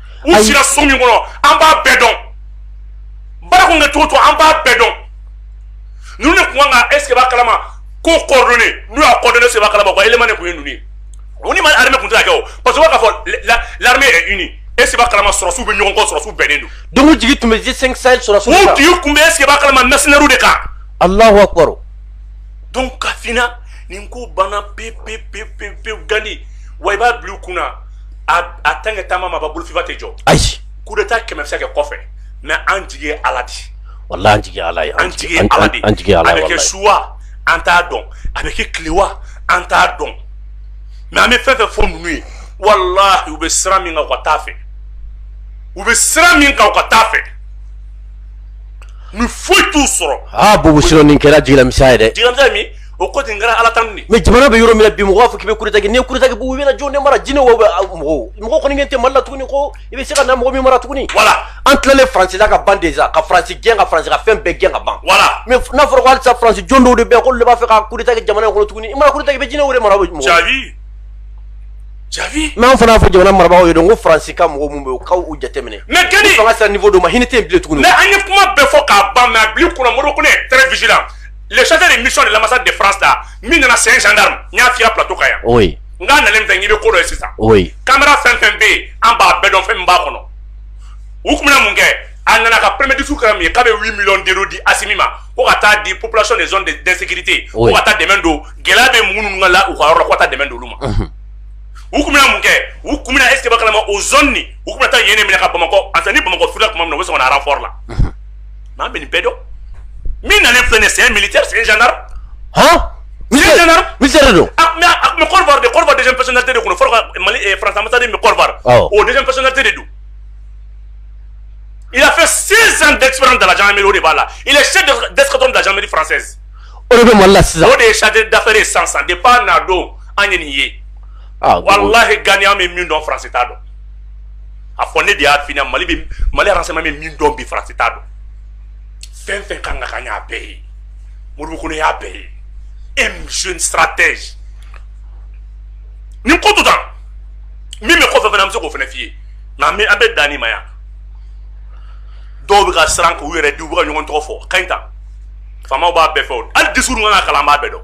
u sira so min kɔnɔ an b'a bɛɛ dɔn baara kun kɛ cogo cogo an b'a bɛɛ dɔn ninnu de kun kan ka est ce que b'a kalama ko coordonné n'u y'a coordonné est ce que b'a kalama ko élément de kun ye ninnu ye o ni ma armée kun tɛ ka kɛ o parce que u b'a k'a fɔ l'armée est unie est ce que b'a kalama sɔrɔsiw bɛ ɲɔgɔn kɔ sɔrɔsiw bɛnnen don donc u jigi tun bɛ G5 Sahel sɔrɔsiw kan u jigi kun bɛ est ce que b'a kalama mercenaires de kan Allahu akbar donc k'a f'i ɲɛna nin ko banna pewu pewu pewu pewu Gani wa i b'a bila u kun na a tan kɛ taama ma ban bolo fifa tɛ jɔ ayi coup d'État kɛmɛsa kɛ kɔfɛ mais an jigi ala di walahi an jigi ala an jigi ala an jigi ala a bɛ kɛ su wa an t'a dɔn a bɛ kɛ tile wa an t'a dɔn mais an bɛ fɛn fɛ fɔ ninnu ye walahi u bɛ sira min kan u ka taa a fɛ u bɛ sira min kan u ka taa a fɛ ni foyi t'u sɔrɔ aa bo siran nin kɛra jiginmi ye dɛ o ko ten kɛra ala tan de mais jamana bɛ yɔrɔ min na bi mɔgɔ b'a fɔ k'i bɛ coup d'État kɛ n'i ye coup d'État kɛ u bɛna jɔn ne mara jinɛ wa mɔgɔw mɔgɔ kɔni kɛ tɛ mali la tuguni ko i bɛ se ka na mɔgɔ min mara tuguni voilà an tilalen faransi la ka ban déjà ka faransi gɛn ka faransi ka fɛn bɛɛ gɛn ka ban voilà mais n'a fɔra ko halisa faransi jɔn dɔw de bɛ yan k'olu de b'a fɛ ka coup d'État kɛ jamana in kɔnɔ tuguni i mana coup d'État kɛ i bɛ jinɛ wɛrɛ mara mɔgɔ jabi jabi mais an fana y'a fɔ jamana marabagaw ye dɔn ko faransi ka mɔgɔ minnu bɛ yen u ka u jateminɛ mais kɛdi fanga sera niveau dɔ ma hinɛ tɛ yen bilen tuguni mais an ye kuma bɛɛ fɔ k'a ban mais a b'i kunna mori ko ne ye très vigilant le chef de mission de l'ambassade de France là min nana sen gendarme n y'a f'i ye plateau kan yan oui n k'a nalen fɛ n k'i bɛ ko dɔ ye sisan oui kamera fɛn fɛn bɛ yen an b'a bɛɛ dɔn fɛn min b'a kɔnɔ u tun bɛna mun kɛ a nana ka premier discours kɛra min ye k'a bɛ 8 millions d'euros di Assimi ma ko ka taa di population des zones d'insécurité ko ka taa dɛmɛ don gɛlɛya bɛ mɔgɔ ninnu ka la u ka yɔrɔ la ko ka taa dɛmɛ don olu ma u tun bɛna mun kɛ u tun bɛna est-ce que i b'a kalama o zone nin u tun bɛna taa yen de minɛ ka Bamakɔ ansa ni Bamakɔ furula tuma min na u bɛ sɔn ka na renfort la Mais an bɛ nin bɛɛ dɔn min nalen filɛ nin ye c'est un militaire c'est un gendarme han c'est un gendarme militaire de don ah mais a tun bɛ Côte d'Ivoire de Côte d'Ivoire deuxième personnalité de tun don fɔlɔ ka Mali eh, France ambassade min bɛ Côte d'Ivoire Awɔ. o deuxième personnalité de don il a fait 16 ans d'expérience dans la gendarmerie o de b'a la il est chef de- d'escadron de la gendarmerie française o de bɛ mali la sisan o de ye chargé d'affaires ye sisan sisan depuis a na don an ye nin ye ah bon. walahi Gani an bɛ min dɔn France t'a dɔn a fɔ ne de y'a f'i na mali bɛ mali renseignement bɛ min dɔn bi faransi t'a dɔn fɛn fɛn kan ka kɛ an y'a bɛɛ ye min b'u kɔnɔ an y'a bɛɛ ye e jeune stratège nin ko to tan min bɛ kɔfɛ fana an bɛ se k'o fana f'i ye nka an bɛ an bɛ dan nin ma yan dɔw bɛ ka siran k'u yɛrɛ di u bɛ ka ɲɔgɔn tɔgɔ fɔ ka ɲi tan faamaw b'a bɛɛ fɛ o hali discours kan ka kalan an b'a bɛɛ dɔn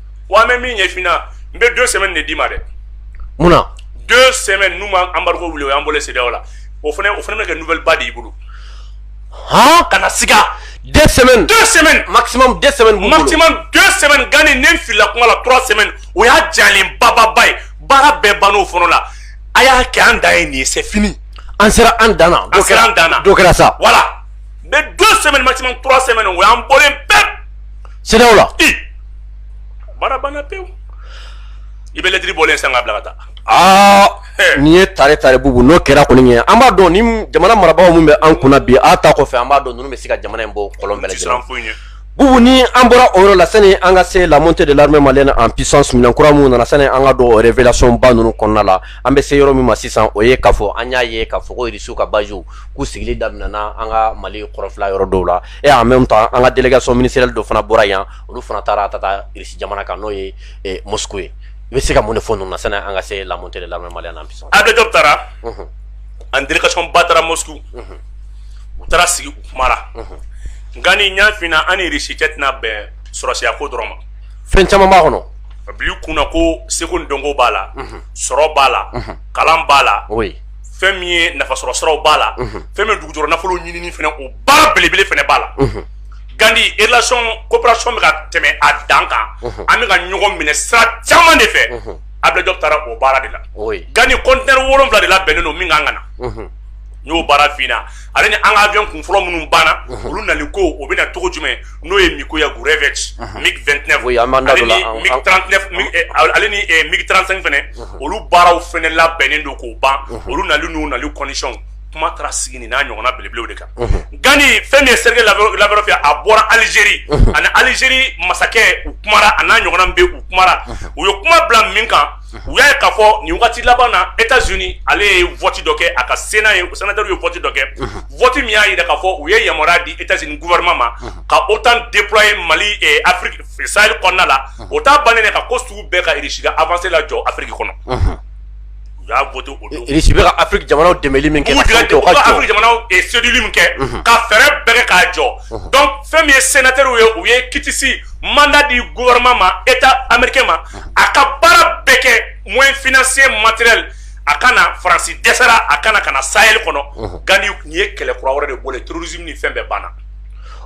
wa bɛ min ɲɛfna n bɛ don sɛbɛn de d'i ma dɛ munna don sɛbɛn nu ma anba wuli o y an bolo se la o fana o fana bɛ kɛ n npba de y'i bolo h kana s sɛbɛn sɛbɛn ma sɛbɛn ganani ne fili kuma la tura sɛbɛn o y'a jalen bababa ye baara bɛɛ ban o fɔlɔ la a y'a kɛ an da ye nin ye sɛ fini an sera an dan an sera an dan kɛra sa wala mɛ don sɛbɛn ma sɛbɛn o y'an bɔ bɛɛ CEDEAO la i baara banna pewu i bɛ lɛtiri bɔlen san ka bila ka taa aa nin ye tare tare bubu n'o kɛra kɔni ɲɛ an b'a dɔn ni jamana marabagaw min bɛ an kunna bi a ta kɔfɛ an b'a dɔn ninnu bɛ se ka jamana in bɔ kɔlɔn bɛɛ lajɛlen foyi ɲɛ bubu ni an bɔra o yɔrɔ la sani an ka se la montée de l'armée malienne en puissance minɛn kura minnu nana sani an ka don o révélation ba ninnu kɔnɔna la an bɛ se yɔrɔ min ma sisan o ye k'a fɔ an y'a ye k'a fɔ ko irisiw ka baziw k'u sigili daminɛna an ka mali kɔrɔnfɛla yɔrɔ dɔw la e en même temps an ka délégation ministérielle dɔ fana bɔra yan olu fana taara ka taa irisi jamana kan n'o ye Moscou ye i bɛ se ka mun de fɔ ninnu na sani an ka se la montée de l'armée malienne en puissance Ablaye Diop taara an délégation ba taara Moscou u taara sigi u kumara Gandhi n y'a f'i ɲɛna an ni irisi cɛ tɛna bɛn sɔrɔdasiya ko dɔrɔn ma fɛn caman b'a kɔnɔ a bil'i kun na ko seko ni dɔnko b'a la sɔrɔ b'a la kalan b'a la fɛn min ye nafasɔrɔ siraw b'a la fɛn min ye dugujukɔrɔ nafolo ɲinini fɛnɛ o baara belebele fɛnɛ b'a la Gandhi relation coopération bɛ ka tɛmɛ a dan kan an bɛ ka ɲɔgɔn minɛ sira caman de fɛ Ablaye Diop taara o baara de la Gandhi conteneur wolonwula de labɛnnen don min ka kan ka na n y'o baara f'i ɲɛna ale ni an ka avion kun fɔlɔ minnu banna olu nali ko o bɛ na cogo jumɛn n'o ye Mikoyan Gurevich MiG vingt-neuf ale ni MiG trente-cinq fɛnɛ olu baaraw fɛnɛ labɛnnen don k'o ban olu nali n'u nali condition kuma taara sigi nin n'a ɲɔgɔnna belebelew de kan Gandhi fɛn min ye Sergueï Lavrov ye a bɔra alizeri ani alizeri masakɛ u kumara a n'a ɲɔgɔnna bɛ u kumara u ye kuma bila min kan u y'a ye ka fɔ nin waati laban na e ka zoni ale ye fti dɔ kɛ a ka sen n'a ye u sina ye fti dɔ kɛti min y'a jira ka fɔ u ye yama di e z guɛma ma ka o tan de kura ye mali sari kɔnɔna la o t' ban ka ko sugu bɛɛ ka irisi afala jɔ afiri kɔnɔ u y'a afiri jamana kɛ seli min kɛ ka fɛɛrɛ bɛɛ k'a jɔ dɔn fɛn min ye sɛnɛter ye u ye kitisi manda di guɛma ma e amadu ma a ka baara bɛɛ kɛ moyen financier matériel a ka na Faransi dɛsɛra a ka na ka na Sahel kɔnɔ mhm. Gandhi nin ye kɛlɛ kura wɛrɛ de bɔlen terrorisme ni fɛn bɛɛ banna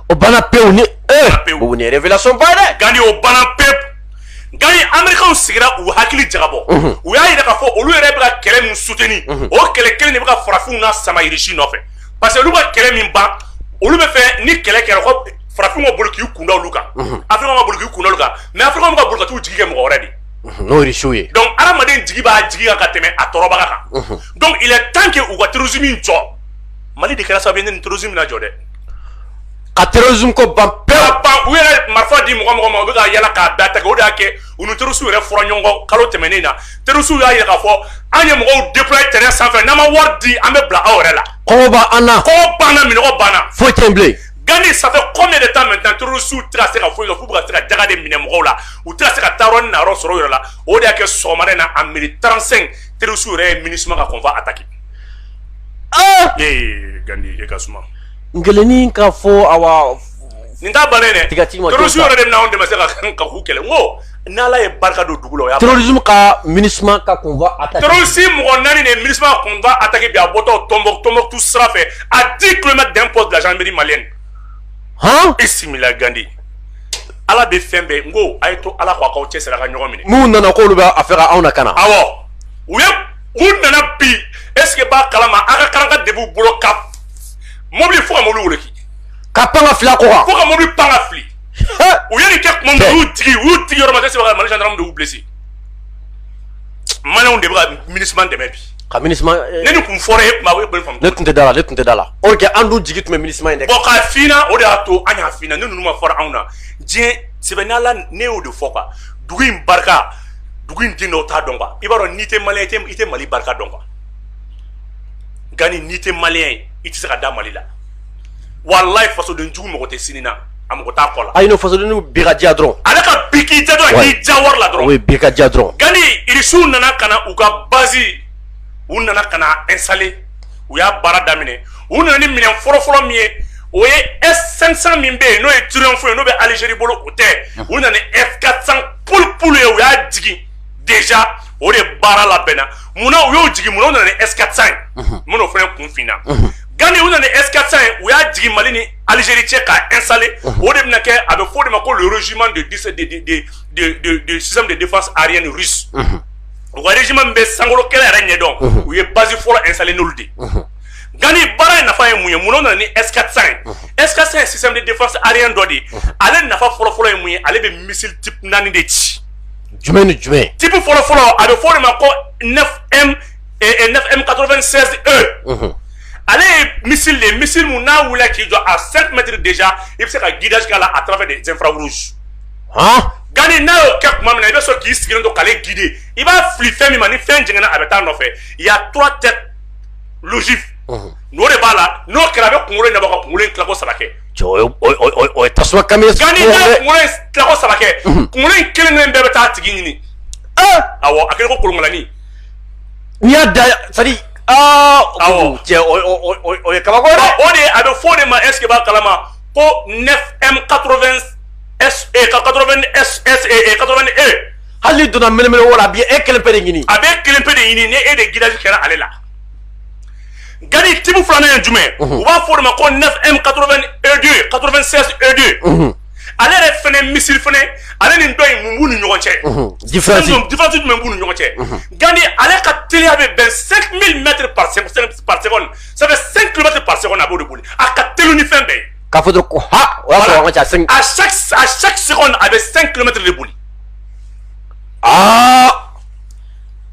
o banna pewu nin ye o ni révélation ba dɛ Gandhi o banna pewu Gandhi américains sigira u hakili jagabɔ mhm. u y'a yira k'a fɔ olu yɛrɛ bɛ ka kɛlɛ min soutenir mhm. o kɛlɛ kelen de bɛ ka farafinw nasama Irisi nɔfɛ parce que olu ka kɛlɛ min ban olu b'a fɛ ni kɛlɛ kɛra ko farafinw ka boli k'u kun da olu kan africains ka boli k'u kun da olu kan mais africains bɛ ka boli ka t'u jigi kɛ mɔgɔ wɛrɛ de n'o ye irisiw ye donc adamaden jigi b'a jigi kan ka tɛmɛ a tɔɔrɔbaga kan donc il est temps que u ka terrorisme in jɔ mali de kɛra sababu ye ni terrorisme na jɔ dɛ ka terrorisme ko ban pewu ban u yɛrɛ marifa di mɔgɔ mɔgɔ ma u bɛ ka yala k'a da tigɛ o de y'a kɛ u ni terroristes yɛrɛ fɔra ɲɔgɔn kɔ kalo tɛmɛnen na terroristes y'a yira k'a fɔ an ye mɔgɔw déployer terrain sanfɛ n'aw ma wari di an bɛ bila aw yɛrɛ la kɔngɔ b'an na kɔngɔ b'an na minnɔgɔ b'an na foyi tɛ yen bilen gandi ça fait combien de temps maintenant terorisiw tɛ ka se ka foyi kɛ f'u ka se ka jaka de minɛ mɔgɔw la u tɛ ka se ka taayɔrɔ ni nayɔrɔ sɔrɔ u yɛrɛ la o de y'a kɛ sɔgɔmada in na à midi trente-cinq terorisiw yɛrɛ ye MINUSMA ka convoi attaqué. Ah! ee gandi e ka suma. n kelenni ka fɔ awa. nin t'a bannen dɛ terorisiw yɛrɛ de bɛna anw dɛmɛ se ka k'u kɛlɛ n ko. N' ala ye barika don dugu la osumu ka mini ka kun si mɔgɔ naani de mi kun a taki a bɔtɔ tɔnonbo tɔnonmɔtu sira a di tuloloma dan kɔ bila miiri male h e sila gandi ala bɛ fɛn bɛɛ n ko a ye to ala k' kaaw cɛ sera ka ɲɔgɔn minɛ n'u nana ko'olu bɛ a fɛ anw na ka na aw u ye u nana bi eseke b'a kalama aw ka kalan ka de b'u bolo ka mɔbili fo ka mɔbili wuli ka pan fila ko ka mɔbili pan fili u ye nin kɛ tuma min na u y'u digi u y'u digi yɔrɔ ma tɛ se ka mali gendarme de y'u blessé maliyɛnw de bɛ ka MINUSMA dɛmɛ bi ka MINUSMA eh, ne ni kun fɔra e kuma e bɛ faamu ne tun tɛ da la ne tun tɛ da la or que an dun jigi tun bɛ MINUSMA in de kan bon k'a fina o de y'a to an y'a fina ne ninnu ma fɔra anw na dɛ subhanallah ne y'o de fɔ quoi dugu in barika dugu in den dɔw t'a dɔn quoi i b'a dɔn n'i tɛ maliyɛn i tɛ i tɛ mali barika dɔn quoi gani n'i tɛ maliyɛn ye i tɛ se ka da mali la walayi fasoden jugu mako tɛ sini na a mako t'a kɔ la ayi n'o fasoden jugu bi ka diya dɔrɔn ale ka bi k'i diya dɔrɔn a k'i diya wari la dɔrɔn o ye bi ka diya dɔrɔn gani irisiw nana ka na u ka bazi u nana ka na installer u y'a baara daminɛ u nana ni minɛn fɔlɔfɔlɔ min ye o ye s 500 min bɛ yen n'o ye triomphe ye n'o bɛ alizeri bolo o tɛ u nana ni s 400 pulipulu ye u y'a jigin déjà o de baara labɛnna munna u y'o jigin munna u nana ni s 400 ye mun n'o fana kun finna Gani u nana eskasa ye u y'a jigin mali ni alizeri cɛ ka esa o de bɛna kɛ a bɛ fɔ de ma ko zuma de de defa ari ni wariz bɛ sankolo kɛlɛ yɛrɛ ɲɛdɔn u ye basi fɔlɔ esa de gani baara ye nafa ye mun ye mun nana ni eskasa ye esa ye si de defa ari dɔ de ye ale nafa fɔlɔfɔlɔ ye mun ye ale bɛ misi naani de ci jumɛn ni jumɛn tibi fɔlɔfɔlɔ a bɛ fɔ de ma ko M96E ale ye missile de missile min n'a wili k'i jɔ à cinq mètres déjà i bɛ se ka guidage k'a la à travers des infrarouges gani n'a y'o kɛ tuma min na i bɛ sɔn k'i sigilen to k'ale guider i b'a fili fɛn min ma ni fɛn jɛngɛnna a bɛ taa nɔfɛ il y a trois têtes d'ogive n'o de b'a la n'o kɛra a bɛ kunkolo in bɔ ka kunkolo in tilako saba kɛ tasuma gani n'a ye kunkolo tilako saba kɛ kunkolo in kelen kelen bɛɛ bɛ taa a tigi ɲini a a ko kolonlanin N y'a da sadi o ye kabako o de a bɛ fɔ de ma est-ce que i b'a kalama ko 9M 96 E hali donna minɛn wala a bɛ e kelen pe de ɲini a bɛ kelen pe de ɲini ni e de guidage kɛra ale la nka ni type filanan ye jumɛn u b'a fɔ de ma ko 9M 96 E2 96 E2 ale yɛrɛ fana missile fana ale ni dɔ in mun b'u ni ɲɔgɔn cɛ différence jumɛn b'u ni ɲɔgɔn cɛ gandi ale ka teliya bɛ bɛn 5000 mètres par seconde ça fait 5 km par seconde a b'o de boli a ka teli ni fɛn bɛɛ ye k'a fɔ dɔrɔn ko ha o y'a sɔrɔ an ka ca 5 à chaque à chaque seconde a bɛ 5 km de boli aa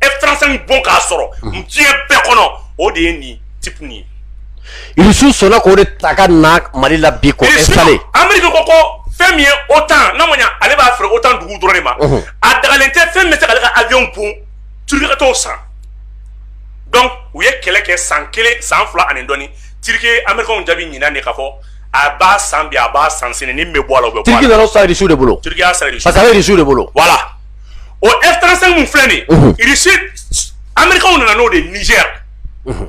F35 bon k'a sɔrɔ diɲɛ bɛɛ kɔnɔ o de ye nin type ye irisiw sɔnna k'o de ta ka na mali la bi k'o installer ameriki ko ko fɛn min ye OTAN n'a ma ɲa ale b'a feere OTAN dugu dɔrɔn de ma a dagalen tɛ fɛn min bɛ se k'ale ka avion bon Turquie ka t'o san donc u ye kɛlɛ kɛ san kelen san fila ani dɔɔni Turquie ye amerikɛnw jaabi ɲinan de k'a fɔ a b'a san bi a b'a san sini ni min bɛ bɔ a la o bɛ bɔ a la Turquie nana o san irisiw de bolo Turquie y'a san irisiw parce que a bɛ irisiw de bolo voilà o F35 min filɛ nin ye, unhun, Russie Américains nana n'o de ye Niger, unhun,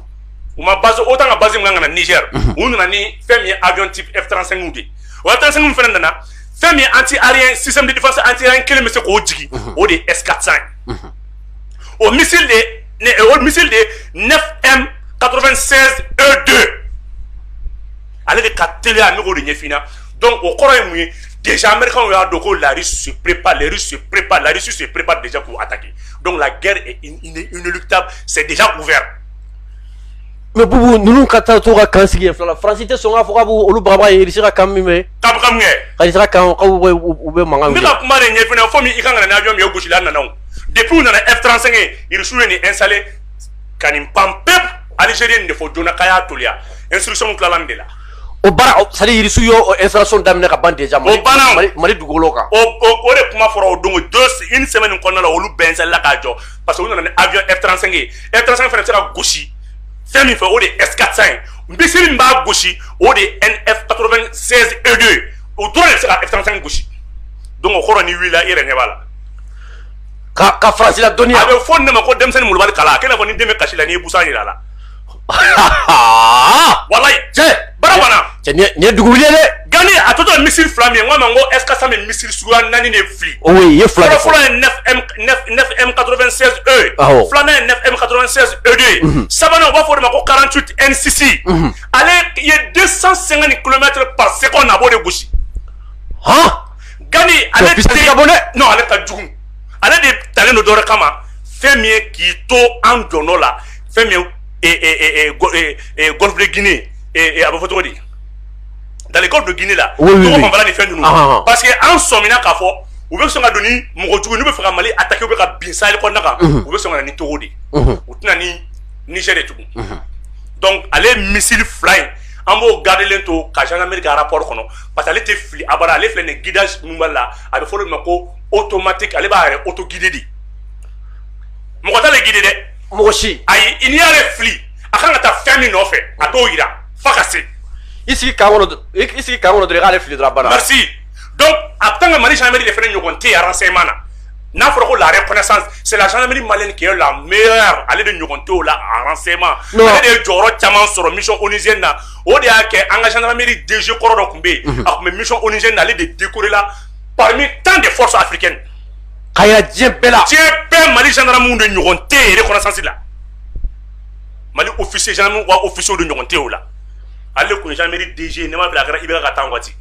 u ma base OTAN ka base min kan ka na Niger, unhun, u nana ni fɛn min ye avion type F35 de ye, o F35 min fana nana fɛn min ye anti aérien système de défense anti aérien kelen bɛ se k'o jigin, unhun, o de ye S400 ye, unhun, o missile de ye ne o missile de ye 9M 96 E2 ale de ka teliya ne k'o de ɲɛf'i ɲɛna dɔnku o kɔrɔ ye mun ye dezsa anmeri y'a don ko laari sup pa lari su pp pa lari su su pp pa dezsa k'u a taki dɔnku la gɛrɛ ta sɛdja u fɛ mɛ bubu ninnu ka taa to ka kan sigi fila farasi tɛ sɔn ka fɔ ka b olu baba ye i bɛ se ka kan min bɛ kan kan u bɛ makan ne ka kuma de ɲɛ fana fo min i ka kan n'a jɔn min ye gosisila nana depiw nana e taara sɛgɛn irisiw ye nin e sale ka nin pan pep alizeri nin de fɔ donnana ka y'a toya e suru tilala de la o baara sali irisiw ye o installation daminɛ ka ban déjà mali mali dugukolo kan o de kuma fɔra o don don une semaine kɔnɔna la olu bɛnsɛla k'a jɔ parce que u nana ni avion F35 ye F35 fana bɛ se ka gosi fɛn min fɛ o de ye S400 ye missile min b'a gosi o de ye 9M 96 E2 ye o dɔrɔn de bɛ se ka F35 gosi donc o kɔrɔ ni wulila i yɛrɛ ɲɛ b'a la ka ka France la dɔɔnin a bɛ fɔ ne ma ko denmisɛnnin mulubali kala a kɛnɛ fɔ ni den bɛ kasi la n'i ye busan jira a la walayi cɛ baara banna cɛ nin ye dugu wuli ye dɛ gani a tɔ tora missile fila min ye n k'a ma n ko S quatre cents bɛ missile suguya naani de fili o ye ye fila de fɔ fɔlɔ ye neuf M neuf neuf M quatre-vingt-seize E ye awɔ filanan ye neuf M quatre-vingt-seize E deux ye sabanan u b'a fɔ o de ma ko quarante-huit N six ale ye deux cent cinquante kilomètres par seconde a b'o de gosi hɔn gani ale Cɛ, vitesse ka bon dɛ. non ale ka jugu ale de talen don dɔ wɛrɛ kama fɛn min ye k'i to an zone la fɛn min gɔnfile g a bɛ fɔ cogo di da don g ni fɛn dun parce que an sɔmina k'a fɔ u bɛ sɔn ka don ni mɔgɔ jugu bɛ faga mali a taki bɛ ka bin sali kɔnɔna kan u bɛ sɔn ni cogo de u tɛna ni ni de tugun dɔnku ale misisiriri fila in an b'o gadelen to ka janmeri arap kɔnɔ pa ale tɛ fili a ale filɛ nin gida minba la a bɛ fɔ ma ko o tomati ale b'a yɛrɛ oto gidi de mɔgɔ gidi dɛ mɔgɔ si ayi n'i y'ale fili a kan ka taa fɛn min nɔfɛ a t'o yira f'a ka se i sigi kan kɔnɔ dɔrɔn i sigi kan kɔnɔ dɔrɔn i k'ale fili dɔrɔn a banna merci donc en tant que Mali gendarmerie de fɛnɛ ɲɔgɔn tɛ yen renseignement na n'a fɔra ko la reconnaissance c'est la gendarmerie malienne qui est la meilleure ale de ɲɔgɔn t'o la en renseignement Non. ale de ye jɔyɔrɔ caman sɔrɔ mission onusienne na o de y'a kɛ an ka gendarmerie DG kɔrɔ dɔ tun bɛ yen a tun bɛ mission onusienne na ale de décoré la parmi tant de forces africaines ka yira diɲɛ bɛɛ la diɲɛ bɛɛ Mali gendarmes de ɲɔgɔn tɛ yen reconnaissance la Mali officier gendarmes wa officiers de ɲɔgɔn tɛ o la ale de kun ye gendarmerie DG ne ma fili a kɛra IBK ka temps waati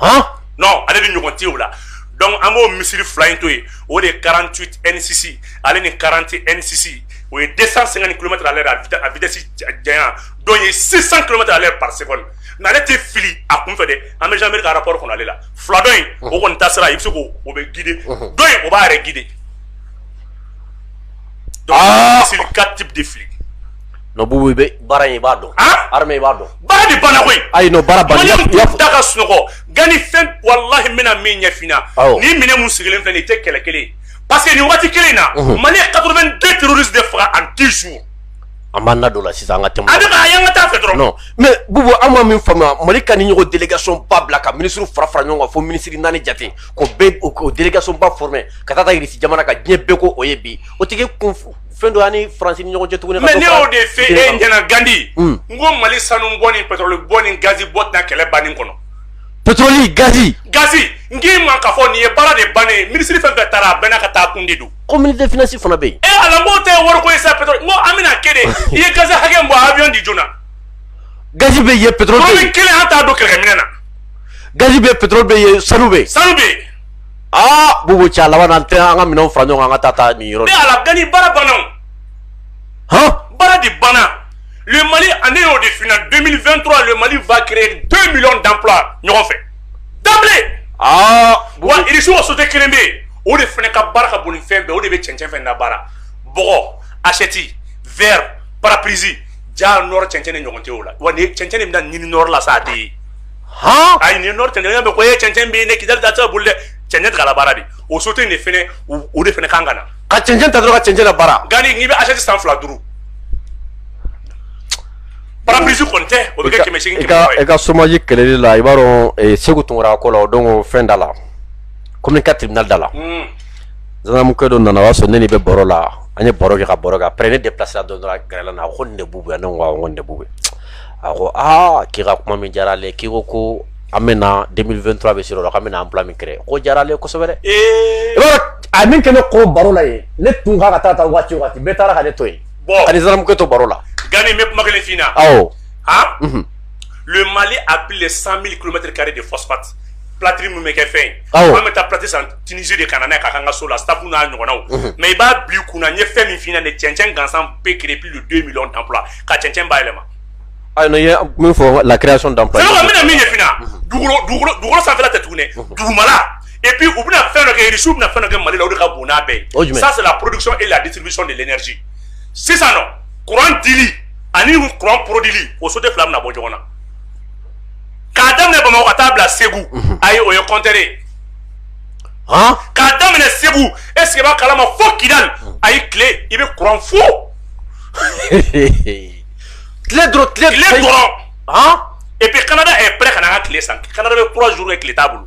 han non ale de ɲɔgɔn tɛ o la donc an b'o missile fila in to yen o de ye 48 N6 ale ni 40 N6 o ye 250 km à l'heure a vitesse janya dɔ ye 600 km à l'heure par seconde nka ale tɛ fili a kun fɛ dɛ an bɛ gendarmerie ka rapport kɔnɔ ale la fila dɔ in o kɔni ta sira i bɛ se k'o o bɛ guider dɔ in o b'a yɛrɛ guider ah! missile 4 types de fili. Non Bubu e baara in i b'a dɔn. armée i b'a dɔn. baara de banna koyi. ayi non baara banna. Malienw tɛ da ka sunɔgɔ gani fɛn walahi n bɛna min ɲɛfina. awɔ ni minɛn mun sigilen filɛ nin ye i tɛ kɛlɛ kelen ye parce que nin waati kelen in na. Mali ye 82 terroristes de faga en 10 jours. an b'an da don o la sisan an ka tɛmɛ o kan, a bɛ ka a ye an ka taa a fɛ dɔrɔn, non mais Bubu an ma min faamuya Mali ka nin ɲɔgɔn délégation ba bila ka ministres fara fara ɲɔgɔn kan fo minisiri naani jate k'o bɛɛ o délégation ba former ka taa taa Irisi jamana kan diɲɛ bɛɛ ko o ye bi o tɛ k'e kun fɛn dɔ y'an ni Faransi ni ɲɔgɔn cɛ tuguni ka mais dɔ ne fara y'o de f'e diinɛ kan. ɲɛna Gandi Un. n ko Mali sanu bɔ ni pétrole bɔ ni gazi bɔ tɛna kɛlɛ bannen kɔnɔ pétrole gazi gazi n k'i ma k'a fɔ nin ye baara de bannen ye minisiri fɛn fɛn taara a bɛɛ n'a ka taa kun de don ko ministre des finances fana bɛ yen. ee eh, ala n k'o tɛ wari ko ye sa pétrole n ko an bɛna kɛ de i ye gazi hakɛ min bɔ awiyɔn di joona. gazi bɛ yen pétrole bɛ yen. kelen an t'a don kɛlɛkɛminɛn na. gazi bɛ yen pétrole bɛ yen sanu bɛ yen. sanu bɛ yen. aa bubu cɛ a laban na an tɛ an ka minɛnw fara ɲɔgɔn kan an ka taa taa nin yɔrɔ. ne ala gani baara banna o. hɔn. baara de banna. le mali a ne y'o de f'i ɲɛna 2023 le mali va créer 2 millions d'emplois ɲɔgɔn fɛ. Wasu waso tɛ kelen bɛ o de fana ka baara ka bon fɛn bɛɛ o de bɛ cɛnɛnfɛn fɛn da baara bɔgɔ asɛti v papsi ja n cɛnɛn ni ɲɔgɔn cɛ la wa ni cɛnɛn min da ɲinin nɔ la sa de ye h a nin nɔ tɛ ɲɔgɔn bɛ ko e ye cɛnɛn bɛ ne ki da tɛ boli dɛ cɛnɛn ta baara de o so tɛ de fana o de fana kan ka na ka cɛnɛn ta dɔrɔn ka cɛnɛn baara nka n' bɛ aseti san fila duuru Pare-brise kɔni tɛ o bɛ kɛ 800 800 ye, i ka chômage kɛlɛli la i b'a dɔn Seku Tunkara ko la o don fɛn da la commune 4 tribunal da la, unhun, gendarmekɛ dɔ nana o y'a sɔrɔ ne ni bɛ baro la an ye baro kɛ ka baro kɛ après ne déplacéla dɔrɔn a gɛrɛla ne na a ko nin de Bubu ye wa ne ko awɔ nin de Bubu ye a ko aa k'i ka kuma min diyara ale ye k'i ko ko an bɛna 2023 bɛ sera o la k'an bɛna emploi min créer k'o diyara ale ye kosɛbɛ dɛ, ee, i b'a dɔn a ye min kɛ ne kun baro la yen ne tun ka kan ka taa waati o waati bɛɛ taara ka ne to yen Bon ani gendarmekɛ to baro la Gani n bɛ kuma kelen f'i ɲɛna awɔ han unhun le Mali a plus de 100.000 kilomètres carrés de phosphate plâtre min bɛ kɛ fɛn ye awɔ an bɛ taa plâtre san Tunisie de ka na n'a ye k'a k'an ka so la staff n'a ɲɔgɔnnaw unhun mais i b'a bila i kun na n ye fɛn min f'i ɲɛna nin ye cɛncɛn gansan peut créer plus de 2 millions d'emplois ka cɛncɛn bayɛlɛma ayi non i ye min fɔ la création d'emplois c'est vrai n bɛna min ɲɛf'i ɲɛna dugukolo sanfɛla tɛ tugun dɛ dugumala et puis u bɛna fɛn dɔ kɛ irisiw bɛna fɛn dɔ kɛ mali la o de ka bon n'a bɛɛ ye ça c'est la production et la distribution de l'énergie sisan nɔ courant dili ani courant produili o société fila bɛna bɔ ɲɔgɔn na k'a daminɛ bamakɔ ka taa bila segu mhm. ayi o ye compteur ye k'a daminɛ segu est ce que i b'a kalama fo kidali mhm. ayi tile i bɛ courant fo tile dɔrɔn tile dɔrɔn et puis canada est prêt ka na an ka tile san canada bɛ trois jours kɛ tile t'a bolo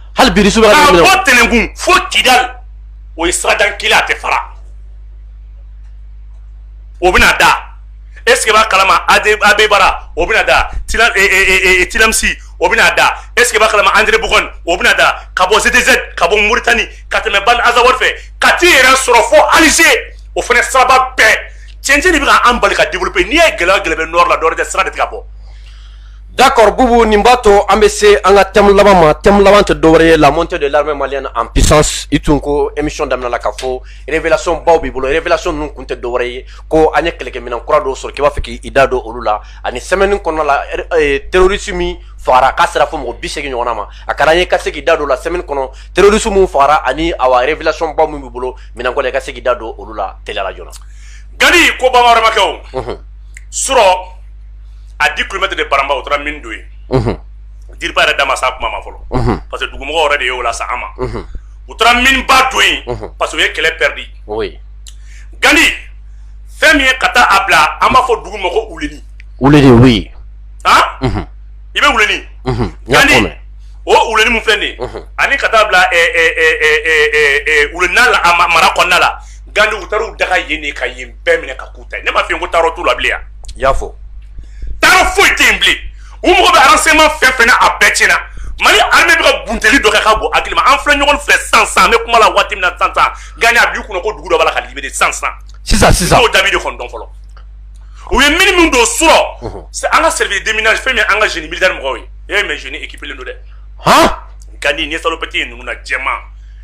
hali biri su bɛ ka bɔ tɛnɛnkun fo kidali o ye sira dan kelen a tɛ fara o bɛna da est ce que i b'a kalama abeibara o bɛna da tilemsi e, e, e, o bɛna da est ce que i b'a kalama anderamboukane o bɛna da ka bɔ ztz ka bɔ muritani ka tɛmɛ ban azawad fɛ ka t'i yɛrɛ sɔrɔ fo alger o fana siraba bɛɛ cɛncɛn de bɛ ka an bali ka développer n'i ye gɛlɛya gɛlɛya bɛ nord la dɔwɛrɛ tɛ sira de tɛ ka bɔ d'accord bubu nin b'a to an bɛ se an ka thème laban ma thème laban tɛ dɔwɛrɛ ye la montée de l'armée malienne en puissance i tun ko émission daminɛ la ka fɔ révélation baw b'i bolo révélation ninnu tun tɛ dɔwɛrɛ ye ko an ye kɛlɛkɛminɛn kura dɔw sɔrɔ k'i b'a fɛ k'i da don olu la ani semaine kɔnɔna la terroriste min fagara k'a sera fo mɔgɔ biseegin ɲɔgɔn ma a ka di an ye i ka se k'i da don la semaine kɔnɔ terroriste min fagara ani awa révélation baw min b'i bolo minɛnko la i ka se k'i da don olu la teliya la joona gandi ko bamanan wɛrɛmakɛ s à dix kilomètres de baramba u taara mine don yen DIRPA yɛrɛ da ma se a kuma ma fɔlɔ parce que dugumɔgɔ yɛrɛ de y'o lase an ma u taara mineba don yen parce que u ye kɛlɛ pɛridi gandi fɛn min ye ka taa a bila an b'a fɔ dugu ma ko wuleni wuleni oui an i bɛ wuleni gandi o wuleni min filɛ dɛ ani ka taa a bila wuleni la a mara kɔnɔna la gandi u taara u daga yen de ka yen bɛɛ minɛ k'a k'u ta ye ne ma f'i ye ko taayɔrɔ t'u la bilen yan i y'a fɔ taayɔrɔ foyi tɛ yen bilen u mago bɛ renseignement fɛn fɛn na a bɛɛ tiɲɛna mali armée bɛ ka bunteli dɔ kɛ ka bɔ hakili ma an filɛ ɲɔgɔn fɛ sisan sisan an bɛ kuma la waati min na sisan sisan gandi a b'i kunna ko dugu dɔ b'a la ka libérer sisan sisan sisan sisan n'o jaabi de kɔni dɔn fɔlɔ u ye mine min don surɔ an ka service déminage fɛn min an ka génie militaire mɔgɔw ye e mais génie équipelen don dɛ han gandi ni salopette ye ninnu na jɛman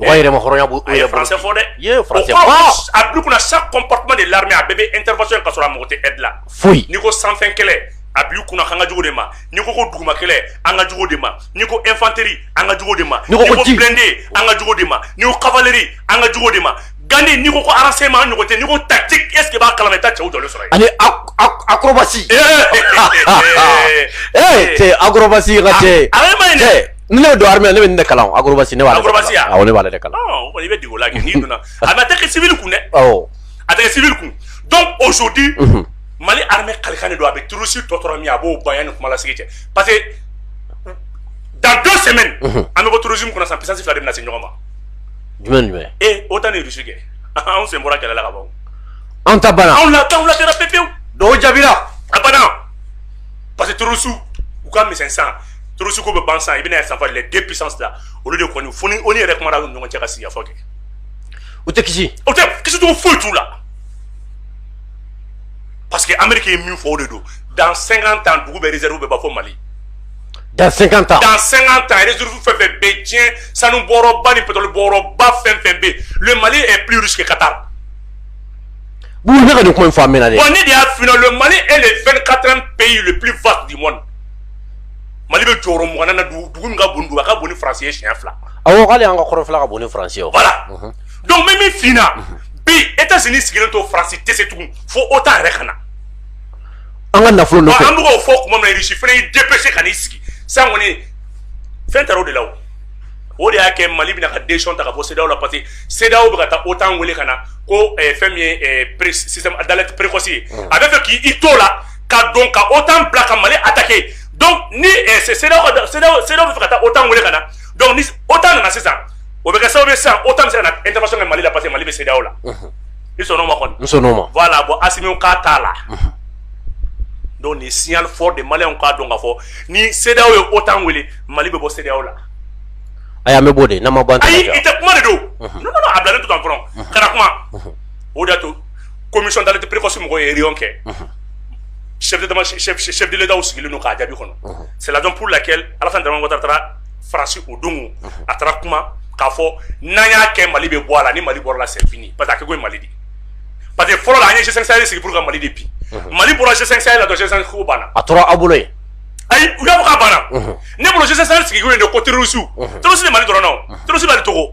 Wa yɛrɛmahɔrɔnya b'u yɛrɛ bolo. A ye français fɔ dɛ! I ye français fɔ. O kɔrɔ ko a bila u kunna chaque comportement de l'armée a bɛɛ bɛ intervention kɛ k'a sɔrɔ a mako tɛ aide la. Foyi! N'i ko sanfɛ kɛlɛ, a bila u kunna k'an ka jugu o de ma, n'i ko ko duguma kɛlɛ, an ka jugu o de ma, n'i ko infanterie an ka jugu o de ma, n'i ko blindé an ka jugu o de ma, n'i ko cavalerie an ka jugu o de ma. gandi n'i ko ko renseignement ɲɔgɔn tɛ n'i ko tactique est ce que i b'a kala ma i ta cɛw jɔlen sɔrɔ yen ani acrobatie ee cɛ acrobatie ka cɛ ale ma ɲi dɛ ni ne donna armée ne bɛ nin de kalan acrobatie ne b'ale acrobatie awɔ ne b'ale de kalan o kɔni i bɛ dege o la kɛ n'i donna a bɛ a tɛ kɛ civil kun dɛ awɔ a tɛ kɛ civil kun donc aujourd'hui mali armée kalikan de don a bɛ terroriste tɔ tora min a b'o ban yanni kuma lasigi cɛ parce que dans deux semaines an bɛ bɔ terrorisme kɔnɔ sisan puissance fila de bɛna se ɲɔgɔn ma jumɛn jumɛn ee OTAN ni Russie kɛ anw sen bɔra kɛlɛ la ka ban anw ta banna anw la t'anw la kɛra pepewu duwaw jaabira a banna parce que terroristes u ka misɛn sisan terroriste ko bɛ ban sisan i bɛna a ye sanfɛ les deux puissances la olu de kɔni fo ni o ni yɛrɛ kumara u ni ɲɔgɔn cɛ ka sigikafɔ kɛ u tɛ kisi u tɛ kisi cogo foyi t'u la parce que amérique ye min fɔ o de don dans 50 ans dugu bɛɛ réserve bɛ ban fo mali Dans 50 ans dans 50 ans réserve fɛn fɛn bɛ yen diɲɛ sanu bɔyɔrɔba ni pétrole bɔyɔrɔba fɛn fɛn bɛ yen le Mali est plus riche que Qatar. Bon ne ka nin kuma in fɔ a mɛnna dɛ. Bon ne de y'a f'i ɲɛna le Mali est le 24e pays le plus vaste du monde Mali bɛ jɔyɔrɔ mugannan na dugu dugu min ka bon ni dugu a ka bon ni France ye siɲɛ fila. Awɔ hali an ka kɔrɔnfɛla ka bon ni France ye o. Voilà donc n bɛ min f'i ɲɛna bi Etats-Unis sigilen to France tɛ se tugun fo OTAN yɛrɛ ka na. an ka nafolo an fɔ tuma minna irisi fana y'i dépêcher ka n'i sigi san kɔni fɛn taara o de la o de y'a kɛ mali bɛn'a ka décision ta ka bɔ CEDEAO la parce que CEDEAO bɛ ka taa OTAN weele ka na ko eh, fɛn min ye système d'alerte précoce ye mm. a b'a fɛ k' i to la ka dɔn ka OTAN bila ka mali attaquer donc ni CEDEAO b'a fɛ ka taa OTAN weele ka na donc ni OTAN nana sisan o bɛ kɛ sababu ye sisan OTAN bɛ se ka na intervention kɛ mali la parce que mali bɛ CEDEAO la i sɔn'o ma kɔni n sɔn'o ma voilà bon Assimi k'a t'a la donc nin signal fort de maliyɛnw k'a dɔn k'a fɔ ni CEDEAO ye OTAN wele Mali bɛ bɔ CEDEAO la ayi an bɛ b'o de n'an ma bɔ an tɛ ayi i tɛ kuma de don non non non a bilalen to tan fɔlɔ kana kuma o de y'a to commission d'alerte précoce mɔgɔw ye réunion kɛ chef d'état chef chef de l'État sigilen don k'a jaabi kɔnɔ c'est la raison pour laquelle Alassane Dramane Ouattara taara farasi o don a taara kuma k'a fɔ n'a y'a kɛ mali bɛ bɔ a la ni mali bɔrala sɛfini pa ko mali di pa que fɔlɔ an yesɛsɛri sigi ka mali de bi mali bɔra sɛsɛ la dɔn ko banna a tora aw bolo ye ayi u y'a ka banna ne bolosɛri sigi de ko teriurusu tosi ni mali dɔrɔnna tosi mali tɔgɔ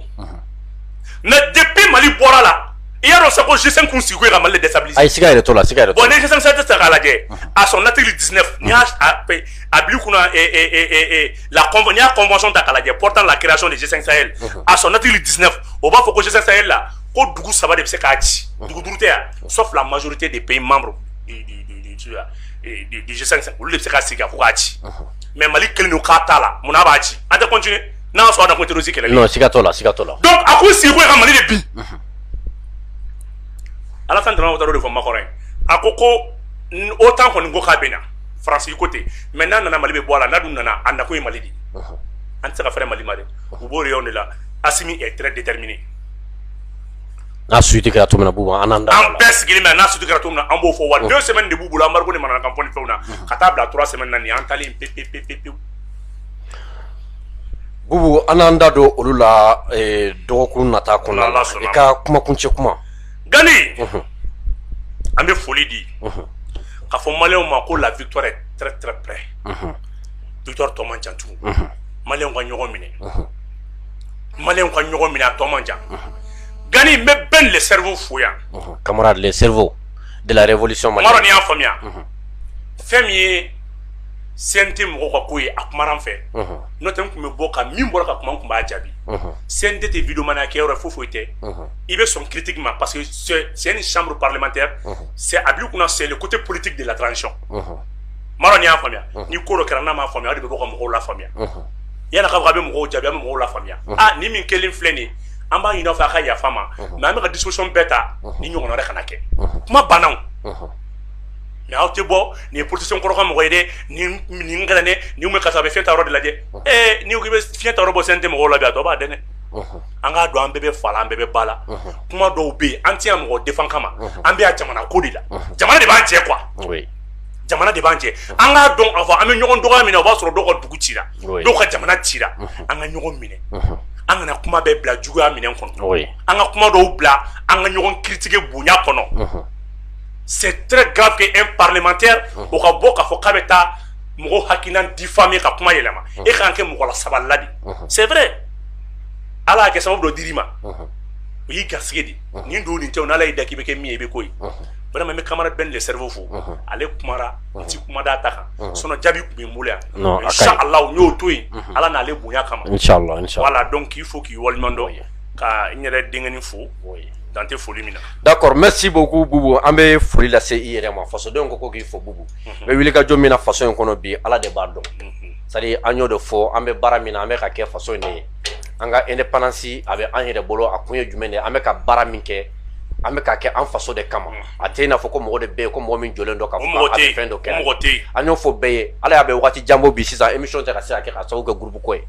mɛ de bɛ mali bɔra la i y'a dɔn sa ko sisen kun sigi ka mali dɛsɛ a sika yɛrɛ to la sika bɔn ne tɛ k'a lajɛ a sɔn natiri di ne a bi kunna la n'i y'a convention ta k'a lajɛ portant la création de G5 Sahel à son article 19 o b'a fɔ ko G5 Sahel la ko dugu saba de bɛ se k'a ci dugu duuru tɛ yan sauf la majorité des pays membres du G5 olu de bɛ se ka sigi ka fɔ k'a ci mais Mali kelen don k'a t'a la mun na a b'a ci an tɛ continuer n'a y'a sɔrɔ a na ko terroriste kɛlɛli non siga t'o la siga t'o la donc a kun sigi ko ka Mali de bin Alassane Dramane Ouattara y'o de fɔ Makɔrɔ ye a ko ko OTAN kɔni ko k'a bɛ na faransi ko ten mais n'a nana mali bɛ bɔ a la n'a dun nana a nakun ye mali di an tɛ se ka fɛrɛ mali ma dɛ u b'o rayon de la asimi est très déterminé n'a suite kɛra cogo min na bubu an n'an da an bɛɛ sigilen bɛ n'a suite kɛra cogo min na an b'o fɔ wa deux semaines de b'u bolo embargo de manana kan fɔ ni fɛnw na ka taa bila trois semaines na nin an taalen pe pe pe pe pewu bubu an n'an da don olu la dɔgɔkun nata kɔnɔna la i ka kumakuncɛ kuma Gali an bɛ foli di ka fɔ mali ma ko la vit vit tɔma jantu ma ka ɲɔgɔn minɛ ma ka ɲɔgɔn minɛ a tɔma jan gani bɛ bɛn le seri fo yan kamara le seri delaolisi ma dɔn y'a faamuya fɛn min ye sen tɛ mɔgɔ ka ko ye a kuma fɛ n'o tɛ tun bɛ bɔ ka min bɔra ka kuma tun b'a jaabi sen tɛ tɛ vmana kɛ yɔrɔ fo foyi tɛ i bɛ sɔn critique ma parce que c'est une chambre parlementaire c'est a b'i kunna c'est le côté politique de la transition m'a dɔn n'i y'a faamuya ni ko dɔ kɛra n'a m'a faamuya o de bɛ bɔ ka mɔgɔw lafaamuya yani a ka fɔ a bɛ mɔgɔw jaabi a bɛ mɔgɔw lafaamuya ah ni min kɛlen filɛ nin ye an b'a ɲini aw fɛ a ka yafa ma mais an bɛ ka discussion bɛɛ ta nin ɲɔgɔn wɛrɛ kana kɛ kuma banna o mais aw tɛ bɔ nin ye politicien kɔrɔ ka mɔgɔ ye dɛ nin nin kɛra dɛ nin bɛ karisa a bɛ fiɲɛ ta yɔrɔ de lajɛ ee n'i ko k'i bɛ fiɲɛ ta yɔrɔ bɔ CNT mɔgɔw la bi a tɔ b'a dɛn dɛ an k'a dɔn an bɛɛ bɛ fa la an bɛɛ bɛ ba la kuma dɔw bɛ yen an tɛ yan mɔgɔ défend kama an bɛ yan jamana ko de la jamana de b'an cɛ quoi jamana de b'an cɛ an k'a dɔn k'a fɔ an bɛ ɲɔgɔn dɔgɔya min na o b'a sɔrɔ dɔw ka dugu cira dɔw ka jamana cira an ka ɲɔgɔn minɛ an kana kuma bɛɛ bila juguya minɛn kɔnɔ an ka kuma dɔw bila an ka ɲɔgɔn critiquer bonya kɔnɔ c'est très grave que un parlementaire o ka bɔ k'a fɔ k'a bɛ taa mɔgɔ hakilina diffamer ka kuma yɛlɛma e ka kan kɛ mɔgɔ lasabalila de c'est vrai ala y'a kɛ sababu dɔ dir'i ma o y'i garisɛgɛ de nin don nin tɛ o n'ala y'i da k'i bɛ kɛ min ye i bɛ k'o ye vraiment n bɛ camarade Ben le cerveau fo ale kumara n ti kuma d'a ta kan sinon jaabi tun bɛ n bolo yan inchallah n y'o to yen ala n'ale bonya kama inchallah inchallah voilà donc k'i fo k'i waleɲuman dɔn ka n yɛrɛ denkɛnin fo dan tɛ foli min na d'accord merci beaucoup Boubou an bɛ foli lase i yɛrɛ ma fasodenw ko ko k'i fo Boubou bɛ wuli ka jɔ min na faso in kɔnɔ bi ala de b'a dɔn c'est-à-dire an y'o de fɔ an bɛ baara min na an bɛ ka kɛ faso in de ye an ka indépendance a bɛ an yɛrɛ bolo a kun ye jumɛn de ye an bɛ ka baara min kɛ an bɛ ka kɛ an faso de kama a tɛ i n'a fɔ ko mɔgɔ de bɛ yen ko mɔgɔ min jɔlen don k'a fɔ a bɛ fɛn dɔ kɛ an y'o fɔ bɛɛ ye ala y'a bɛ waati jan bɔ bi sisan émission tɛ ka se ka kɛ ka sababu kɛ groupe ko ye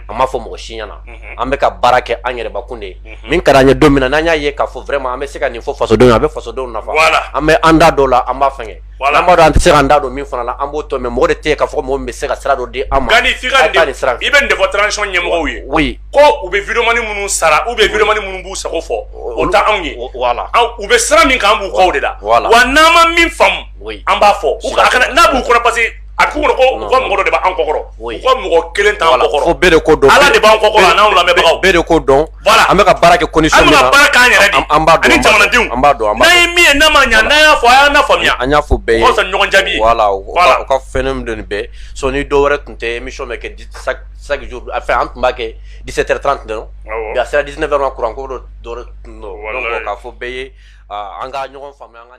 an m'a fɔ mɔgɔ si ɲɛna an bɛ ka baara kɛ an yɛrɛbakun de ye min ka d'an ye don min na n'an y'a ye k'a fɔ vraiment an bɛ se ka nin fɔ fasodenw ye a bɛ fasodenw nafa an bɛ an da don o la an b'a fɛngɛ n'an b'a dɔn an tɛ se k'an da don min fana la an b'o to mais mɔgɔ de tɛ yen k'a fɔ ko mɔgɔ min bɛ se ka sira dɔ di an ma Gandhi f'i ka taa i bɛ nin de fɔ transition ɲɛmɔgɔw ye o ye ko u bɛ vidéomani minnu sara ou bien vidéomani minnu b'u sago fɔ o tɛ anw ye voilà u bɛ sira min kan an b'u kɔ de la wa n'an ma min faamu an b'a fɔ n'a b'u kɔnɔ parce a b'u kɔnɔ ko u ka mɔgɔ dɔ de b'an kɔkɔrɔ u ka mɔgɔ kelen t'an kɔkɔrɔ fo bɛɛ de ko don ala de b'an kɔkɔrɔ a n'anw lamɛnbagaw bɛɛ de ko don voilà an bɛ ka baara kɛ condition min na an bɛ ka baara k'an yɛrɛ de an b'a dɔn ani jamanadenw an b'a dɔn an b'a dɔn n'an ye min ye n'a ma ɲa n'an y'a fɔ a y'an lafaamuya an y'a fɔ bɛɛ ye o ka fisa ni ɲɔgɔn jaabi ye voilà u ka u ka fɛn min don nin bɛɛ sinon dɔ wɛrɛ tun tɛ émission bɛ kɛ chaque chaque jour enfin an tun b'a kɛ 17h30 dɔrɔn bi a sera 19h ma kuran ko dɔ dɔ tun don donc k'a fɔ bɛɛ ye an ka ɲɔgɔn faamuya an ka